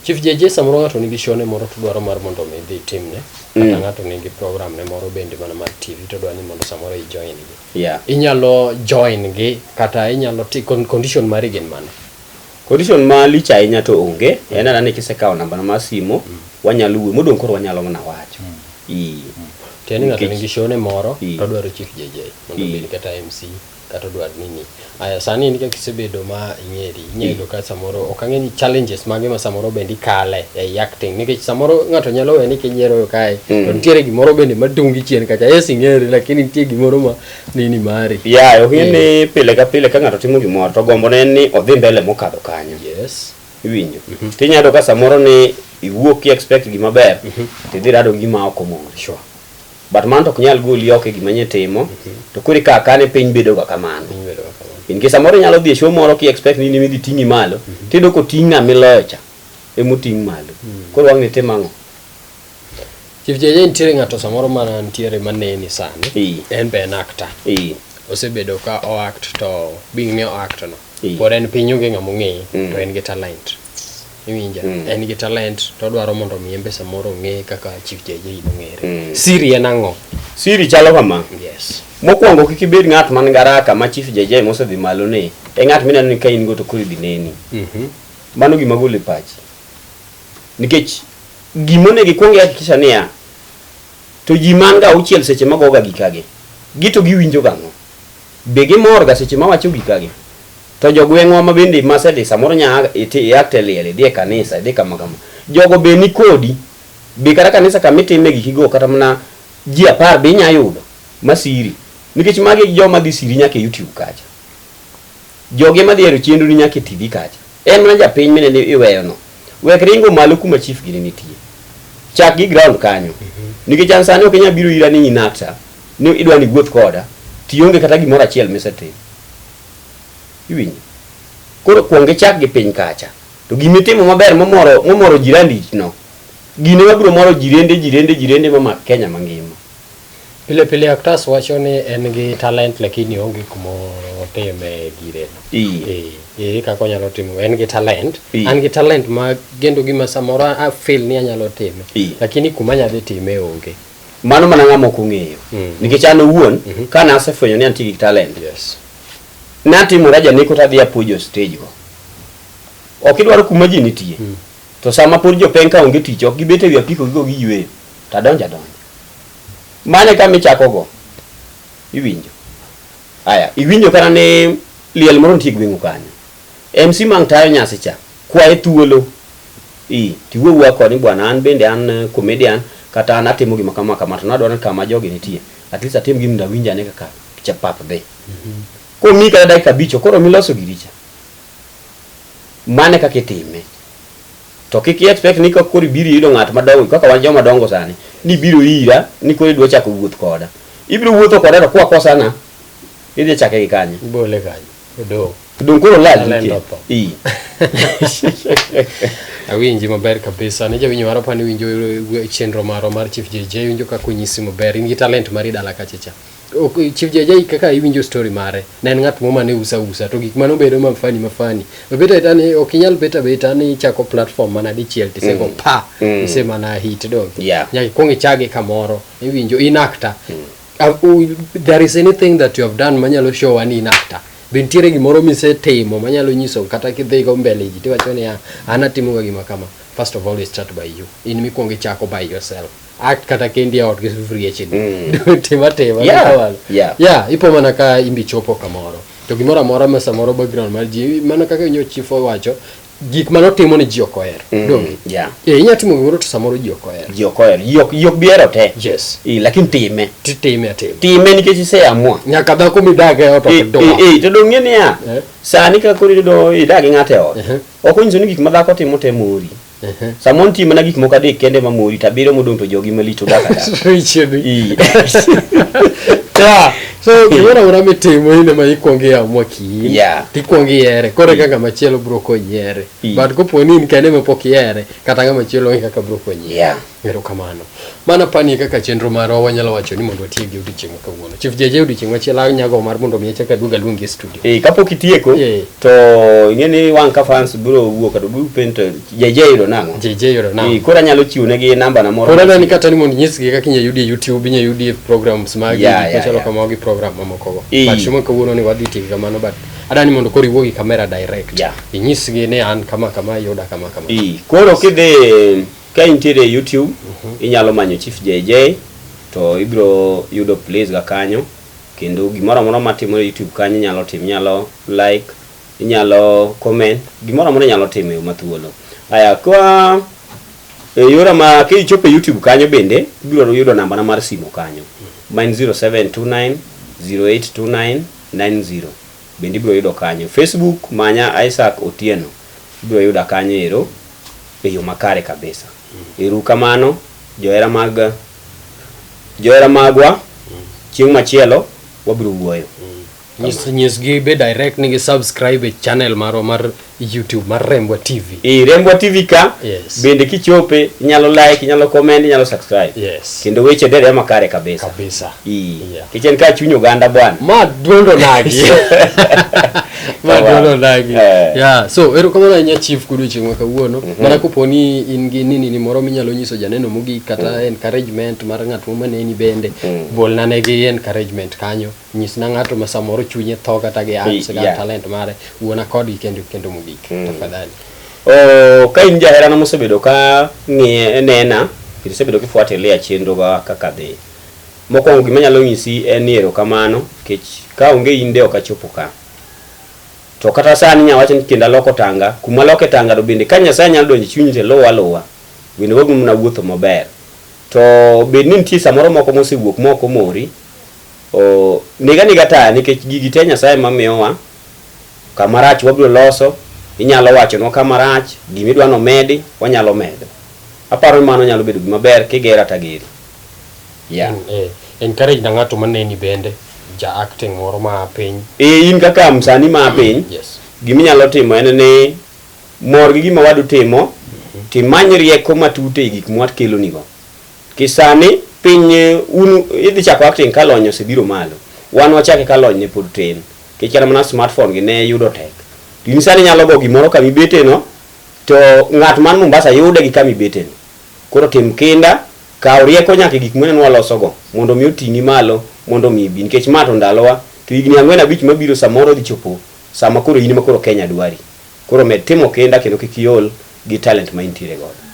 Chief JJ samoro ng'ato nigi show ne moro to dwaro mar mondo omi idhi itimne kata mm. ng'ato nigi program ne moro bende mana mar TV to dwa ni mondo samoro i join gi. Yeah. Inyalo join gi kata inyalo ti condition mari gin mane? Condition ma lich ahinya to onge. Mm. En anane kisekawo namba mar simo mm. wanyalo wuo modong koro wanyalo mana wacho. Mm. Ee. Mm. Tieni ng'ato nigi show ne moro to dwaro Chief JJ mondo obed kata MC. kata odwar nini. Aya sani in kaka isebedo ma ing'eri, inya yudo ka samoro ok ang'e ni challenges mage ma samoro bende ikale ei acting nikech samoro ng'ato nyalo we ni kinyiero kae mm. to nitiere gimoro bende matungi chien kacha. Yes ing'eri lakini nitie gimoro ma nini mari. Yeah, ok ni eh. pile ka pile ka ng'ato timo gimoro to gombo ne ni odhi mbele mokadho kanyo. Yes. Iwinjo. Mm -hmm. Tinya yudo ka samoro ni iwuok ki expect gima ber, mm -hmm. tidhi rado gima ok omor. Sure. But mano to ok nyal goli oko e gima nye timo, to koro ikawo akawa ni piny bedo ga kamano. Piny bedo ga kamano. In case samoro inyalo dhi e show moro ki expect ni in ema idhi ting'i malo, tiyudo koting' ng'ama iloyo cha, ema oting' malo. Koro wang'ni itim ang'o? Chief Jeje nitiere ng'ato samoro ma nitiere ma neni sani. Ee. En be en actor. Ee. Osebedo ka o act to being ni o act no. Ee. Pod en piny onge ng'ama ong'eye Mm. to en gi talent. iwinja mm. en gi talent to odwaro mondo omi embe samoro ong'e kaka chief JJ nong'ere mm. siri en ang'o siri chalo kama yes mokwongo kik ibed ng'at man garaka ma chief JJ mosedhi malo ni e ng'at mineno ni ka in go to koro idhi neni mm -hmm. mano gima gole pachi nikech gima onego ikwong ihakikisha niya to ji man ga auchiel seche magoga gikagi gito giwinjo gang'o be gimorga seche mawacho gikagi To jogweng'wa ma bende masedhi samoro nya iakte e liel idhi e kanisa idhi kama kama. Jogo be ni kodi. Be kata kanisa kama itime giki go kata mana ji apar be inya yudo ma siri. Nikech magi e joma dhi siri nyaka e YouTube kacha. Jogi ema dhi hero chenro ni nyaka e TV kacha. En mana japiny mineno iweyo no. Wek ringo malo kuma chief gini nitie. Chak gi ground kanyo. Nikech an sani ok inya biro ira ni in actor ni idwa ni iwuoth koda to ionge kata gimoro achiel misetimo. Iwinjo? Koro kwong ichak gi piny kacha. To gima itimo maber momoro momoro jirandi no, gine mabiro moro jirende jirende jirende mamak Kenya mangima. Pile pile Octas wacho ni en gi talent lakini onge kuma otime gire no. Ii. Eh, ere kaka onyalo timo? En gi talent. Ii. An gi talent ma gendo gima samoro a feel ni anyalo time. Ii. Lakini kuma anyadhi time onge. Mano mana ng'ama ok ong'eyo. Mm. Nikech an owuon mm -hmm. kana asefwenyo ni antie gi talent. Yes. Natimora janeko to adhi apuojo stage go. Ok idwaro kuma ji nitie. Mm. To sama pod jopeng ka onge tich ok gibet e wi apiko gigo giyweyo to adonjo adonjo. Mane kama ichako go iwinjo. Aya, iwinjo kana ne liel moro nitie gweng'u kanyo. MC mang tayo nyasi cha, kwaye thuolo i tiwuo wuoya kode ni bwana an bende an eh, comedian kata an atimo gima kama kama to nadwaro ni kama jogi nitie at least atim gima ndawinj ane kaka cha pap dhi. Komi kata dakika abich koro miloso giri cha. Mane kaka itime. To kik i expect ni kaka koro ibiro yudo ng'at madongo kaka wan joma dongo sani ni biro ira ni koro idwa chako wuoth koda. Ibiro wuotho koda to kwa kosana idhi chake gi kanye. Ibole kanyo. Odo. Donge koro lal Lal nikech. otho. Ii. awinji maber kabisa ne jawinjo mara pani winjo eh, chenro marwa mar chief jj winjo kaka onyisi maber in gi talent mari dala kachacha Ok, chief jj kaka iwinjo story mare ne en ng'at mo mane usa usa to gik mane obedo mafani mafani obet aeta ni ok inyal bet abeta ni ichako platform mana dichiel tisego Mm. pa Mm. isemana hit dong Yeah. nyaka ikwong ichage kamoro iwinjo inakta Uh, u- there is anything that you have done manyalo show ani in actor be nitiere gimoro misetimo manyalo nyiso kata kidhigo mbele ji tiwacho niya an atimoga gima kama first of all we start by you in mikwongo ichako by yourself act kata kendi e ot gi sufuria chini Mm. tima tima Yeah, kamano. yeah. yeah ipo mana ka imbi chopo kamoro to gimoro amora ma samoro background mar ji mana kaka nyo chief owacho gik mane otimo ni ji ok ohero mm, donge yeah. e, eh, inyalo timo gimoro to samoro ji ok ohero ji ok ohero ji ok ji ok bihero te yes e, lakini time ti time atim time nikech iseamua nyaka dhako midag e ot ok dong e, e, to dong' niya yeah. sani kaka koro iyudo idag gi ng'ato e ot uh -huh. ok onyiso ni gik ma dhako timo te mori uh -huh. samoro nitie mana gik moko adek kende ma mori to abiriyo modong' to jogi malich odak ata so gimoro amora mitimo in ema ikwongo iamua kiin Yeah. tikwongo ihere koro eka ng'ama chielo bro konyi here Mm. but kopo ni in kende mapok ihere kata ng'ama chielo onge kaka bro konyi Yeah. erokamano mana pani kaka chenro marwa wanyalo wacho ni mondo watiek gi odiochieng' ma kawuono chief jeje odiochieng' machielo anyago mar mondo mi achak aduog aluongi e studio Eh, kapok itieko Yeah. To ing'e ni wan ka fans biro wuok kata biro pento JJ yudo nang'o? JJ yudo nang'o? Ee, koro anyalo chiwo negi namba na moro. Koro anani kata ni mondo nyisgi kaka inyalo yudi e YouTube, inyalo yudi e programs magi yeah, gik yeah, machalo yeah. kamago gi program mamoko go. Ee. But shimo kawuono ni wadhi tiyo kamano but adani mondo koro iwuo gi kamera direct. Yeah. Inyisgi ni an kama kama yuda kama kama. Ee, koro kidhi ka intiere e YouTube, uh mhm. -huh. inyalo manyo Chief JJ to ibro yudo please ga kanyo. kendo gimoro amora matimore YouTube kanyo inyalo tim, inyalo like, inyalo comment, gimoro amora inyalo timo e yo mathuolo. Aya, kwa e yora ma kichopo e YouTube kanyo bende ibiro yudo nambana mar simu kanyo ma en 0729 0829 90 bende ibiro yudo kanyo. Facebook manya Isaac Otieno ibiro yuda kanyo ero e yo makare kabisa. Erukamano johera mag Johera magwa, chieng' machielo wabiro wuoyo. Nyis, nyisgi be direct ni gi subscribe e channel marwa mar YouTube mar Rembwa TV. E Rembwa TV ka yes. Bende kichope inyalo like, inyalo comment, inyalo subscribe. Yes. Kendo weche dere ma kare kabisa. Kabisa. Ii. Yeah. Kichen ka chunyo ganda bwana. Ma duondo nagi. madwaro dagi Eh. yeah so erokamano ahinya chief kudu chieng' ma kawuono mana kopo ni in gi nini ni moro minyalo nyiso janeno mogik kata encouragement mar ng'at ma maneni bende bolna ne gi encouragement kanyo nyisna ng'ato ma samoro chunye tho kata gi arts kata Yeah. talent mare wuona kodgi kendo kendo mogik tafadhali Oh, ka in jaherana mosebedo ka ng'iye nena kendo isebedo kifuatilia chenroga kaka dhi Mokwongo gima anyalo nyisi en ni erokamano nikech ka onge in de ok achopo ka. To kata sani inya wacho ni kendo aloko tanga, kuma aloke tanga to bende ka Nyasaye nyalo donjo e chunyi to luwa aluwa, bende wabiro mana wuotho maber. To bed ni nitie samoro moko mosewuok ma ok omori, oh, neg anega taya nikech gigi te Nyasaye ema miyowa. Kama rach wabiro loso, inyalo wachonwa kama rach, gima idwa ni omedi, wanyalo medo. Aparo ni mano nyalo bedo gima ber, kigera to ageri. Yeah. Mm, eh, encourage na ng'ato maneni bende ja acting moro ma piny Eh, in kaka msanii ma piny yes gima inyalo timo en ni mor gi gima wadu timo timany rieko matut e gik mwakelonigo kisani piny eh, un idhi chako acting ka lony osebiro malo wan wachake ka lony ne pod tin nikech kata mana smartphone gi ne yudo tek to in sani inyalo go gimoro kama ibeteno to ng'at man mombasa yude gi kama ibeteno koro tim kinda Kaw rieko nyaka e gik mwaneno walosogo, mondo mi oting'i malo mondo mi ibi, nikech ma to ndalowa, to higni ang'wen abich mabiro samoro odhi chopo sama koro in ema koro Kenya dwari. Koro med timo kinda kendo kik iol gi talent ma intiere godo.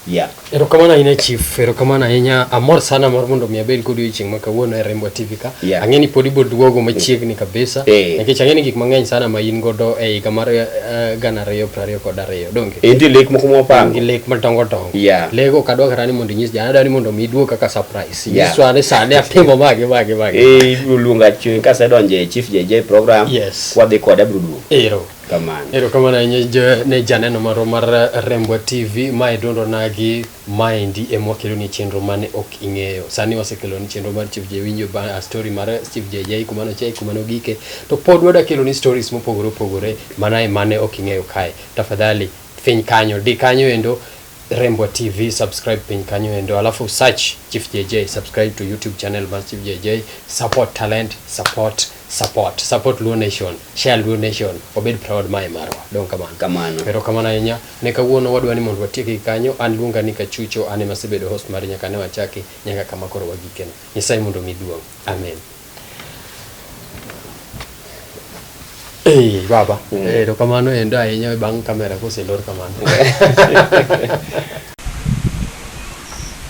Yeah. Erokamano ahinya Chief, erokamano ahinya. Amor sana mar mondo mi abed kodi odiochieng' ma kawuono e Rembwa TV ka. Yeah. Ang'e ni pod ibiro duogo machiegni kabisa. Eh. Nikech ang'e ni gik mang'eny sana ma in godo e higa mar eh, gana ariyo prariyo kod ariyo. donge e nitie lek moko mwapango gi lek madongo dongo yeah. lego ok adwa kata ni mondo inyis jana adwa ni mondo mi duog kaka surprise yeah. nyiswa ni sani atimo mage mage mage eh ibiro luonga chwe ka se donje e chief JJ program yes wadhi kod abro duog ero kamano ero kamano ne janeno maro mar Rembo TV ma idundo nagi Maendi ema wakeloni chenro mane ok ing'eyo. Sani wasekeloni chenro mar Chief Jay winjo ba a story mar Chief Jay Jay kuma nochaye kuma nogike. To pod wada keloni stories mopogore opogore mana e mane ok ing'eyo kae. Tafadhali finy kanyo di kanyo endo Rembwa TV subscribe piny kanyo endo alafu search Chief Jay Jay subscribe to YouTube channel mar Chief Jay Jay support talent support support support luo nation share luo nation obed proud mae marwa dong kamano kamano pero kamano ahinya ne kawuono wadwa ni mondo watieki kanyo an luonga ni kachucho an ema asebedo host mar nyaka ne wachaki nyaka kama koro wagikeno nyasaye mondo mi duong amen Hey, baba mm. ero kamano endo ahinya bang' kamera koselor kamano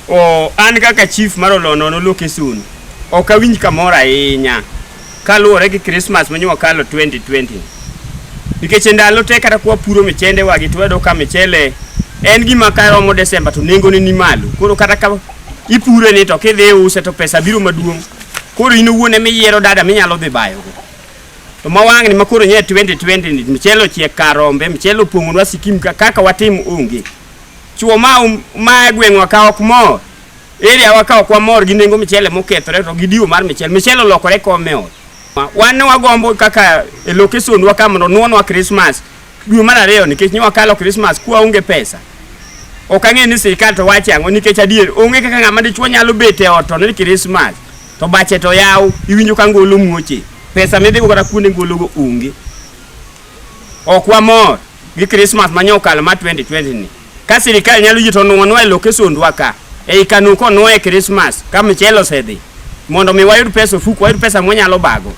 O, an kaka chief mar Olonono Lokesun, ok awinj kamoro ahinya kaluwore gi Christmas ma nyo kalo 2020. Nikech e ndalo te kata kwa puro michende wagi to wayudo ka michele en gima ka romo Desemba to nengone ni malo. Koro kata ka ipure ni to kidhi iuse to pesa biro maduong'. Koro in owuon ema iyiero dada minyalo dhi bayogo. To ma wang'ni ma koro nye 2020 ni michele ochiek kar rombe, michele opong'onwa sikim ka- kaka watim onge. Chuo ma ma e gweng'wa ka ok mor. Area wa ka ok wamor gi nengo michele mokethore to gi diwo mar michele. Michele olokore kome ot. Wan ne wagombo kaka e location wa ka mondo nuonwa Christmas dwe mar ariyo nikech ne wakalo Christmas kwa onge pesa. Ok ang'e ni sirkal to wache ang'o nikech adier onge kaka ng'ama dichuo nyalo bet e ot to ni Christmas to bache to yaw iwinjo ka ngolo muoche. Pesa midhigo kata kuonde ngologo onge. Ok wamor. gi Christmas ma nyokal ma 2020 ni ka sirikal nyalo yito nwanwa e lokesondwa ka ei kanu konwa e Christmas ka mchele osedhi mondo mi wayud pesa ofuku wayud pesa mwanyalo bago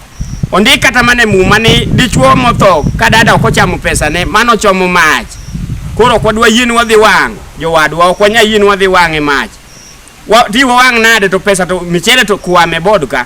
ondik kata mana e muma ni dichwo motho ka dada ok ochamo pesane mano chomo mach koro ok wadwa yien wadhi wang' jowadwa ok wanya yien wadhi wang' e mach Wa- ti wawang' nade to pesa to michele to kwame bod ka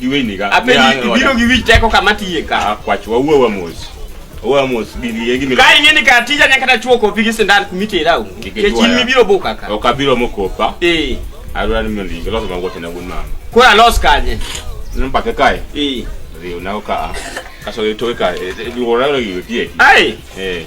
Giweni ga. Ape biro gi wich teko kama tiye ka. Ah, kwach wa uwe wa mos. Uwe wa mos gigi yegi mi. Kai ngeni ka tija nyaka ta chuo kopi gi sindan kumite rau. Kechin mi biro boka ka. Oka biro mokopa. Eh. Arwa ni mndi gilo sama wote na gun mama. Kwa los kanye. Namba ke kai. Eh. Rio na oka. Kaso yotoka. Biwora lo yotie. Ai. Eh.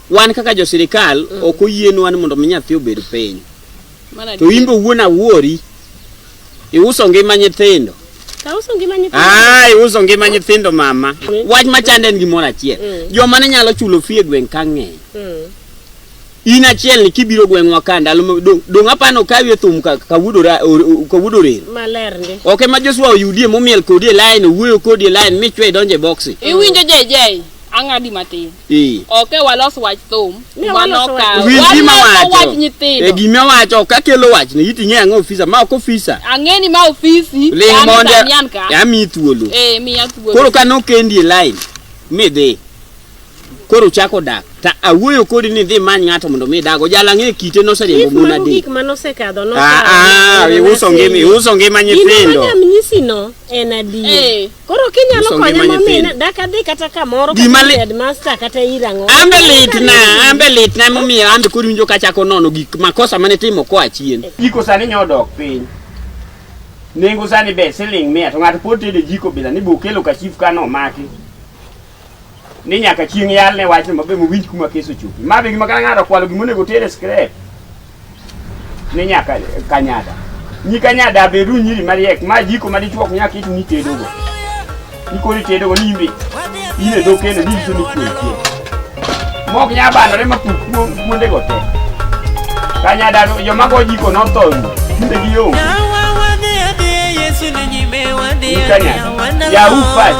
Wan kaka jo sirikal mm. ok oyienwa ni mondo mi nyathi obed piny. To imbe wuon awuori iuso ngima nyithindo. Tauso ngima nyithindo. Ah, iuso ngima nyithindo mama. Mm. Wach machande en gimoro achiel. Mm. Joma ne nyalo chulo fee gweng' ka ng'eny. Mm. In achiel ni kibiro gweng'wa ka ndalo dong' apano kawi e thum ka wudora ka wudore. Maler ndi. Okay ma Joshua oyudie momiel kodi e line, wuoyo kodi e line, michwe donje boxi. Iwinjo jejei, ang'adi matin. Eh. Ok e walos wach thum. Ne Mano waloso ka. wach- Winj gima Waloso wacho. wach E nyithindo. gima wacho ok akelo wach ni iting'e ang'o ofisa ma ok ofisa. Ang'eni ma ofisi. Ling an mondo Damian ka. ami thuolo. Eh miya thuolo. Koro ka nokendi e line midhi. Koro chako dak. Ta awuoyo kodi ni dhi many ng'ato mondo mi dago. Jala ng'e kite noseriembo Chief, mon mago adek. gik ma nosekadho Ah ah, iuso ngima, iuso ngima nyithindo. Gino ma nyamnyisino en adier. Eh. Koro kinyalo Uso konya ngima momina nyithindo. dak adhi kata kamoro Gima kata li- headmaster kata irang'o. Ambe litna, ambe litna emomiyo ambe koro winjo kachako nono gik makosa mane timo koa chien. Jiko sani nyodok piny. Nengo sani be siling mia to ng'ato pod tede jiko bila ni bokelo ka chief kano maki. ni nyaka chieng' yalne wachno mabe mowinj kuma kes ochopi. Ma be gima kata ng'ato okwalo gima onego oter e skrep ni nyaka kanyada. Nyi kanyada abedu nyiri mariek ma jiko ma dichwok nyaka itu ni tedogo. Nikori tedogo ni imbe in e dho kendo ni iso ni kuwe kuwe. Mok nya bandore ma kuwe kuonde go te. Kanyada joma go jiko notho kinde gi yo. Kanyada. Yahoo Fast.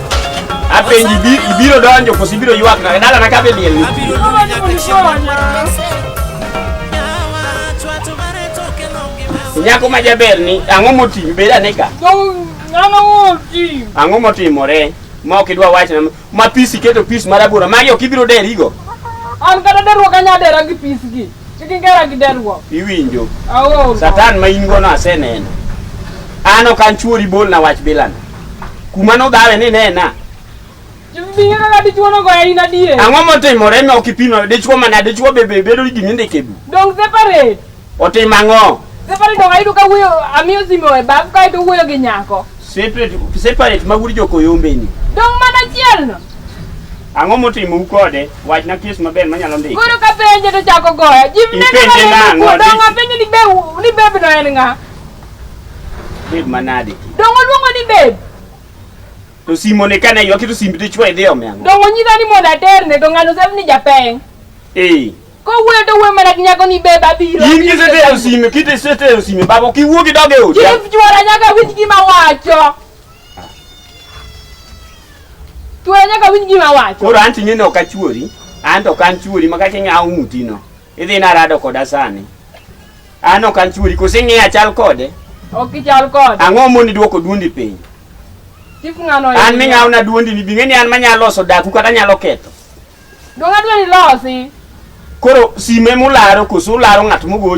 Apenji ibiro donjo koso ibiro ywak na dala na kabe liel. Abiro donjo nyaka chieng'. Nyako ma jaber ni ang'o motim beda ne ka? Ang'o motimore? Ma ok idwa wach na ma pisi keto pis marabora magi ok ibiro derigo. An kata deruok anya dera gi pis gi. Chikigera gi deruok. Iwinjo. Aol. Satan ma in gono aseneno. An ok an chuori bol na wach bilana. Kuma nodhawe ni nena. Ang'o motimore ma ok ipimo dichwo mana dichwo bebe bedo ni gini ndike bu. Dong separate. Otim ang'o? Separate dong ayudo ka wuoyo amiyo simo e bab kae to wuoyo gi nyako. Separate separate ma wuod jokoyombe ni. Dong mana chiel no. Ang'o motimou kode? Wachna kes maber manyalo ndiko. Koro ka penje to chako goya. Jim ne Ipenje nang'o? nang'o? Dongo penje ni be ni beb no en ng'a. Beb manade. Dongo luongo ni beb. To simo ne kana ywaki to simbi to chwa idhi ome ang'o? Dongo nyisa ni mondo aterne to ng'ano sef ni japeng. Eh. Ko wuoyo to wuoyo mana gi nyako ni beb abiro. In abiro, kisetero abiro. sime, kisetero sime babo kiwuogi dog e odi. Chief chwora nyaka winj gima wacho. Tuwe nyaka winj gima wacho. Koro anti nyine ok achuori, an to kan chuori maka king'awo ng'utino. Idhi narado koda sani. An ok an chuori, koso ing'eyo achal kode? Ok ichal kode. Ang'o moni dwoko duondi piny? Chief ng'ano An ming'awona duondi ni bing'e ni an manyalo loso daku kata nyalo ketho. Donge adwa ni losi. Koro sime mularo koso ularo ng'at mogocho?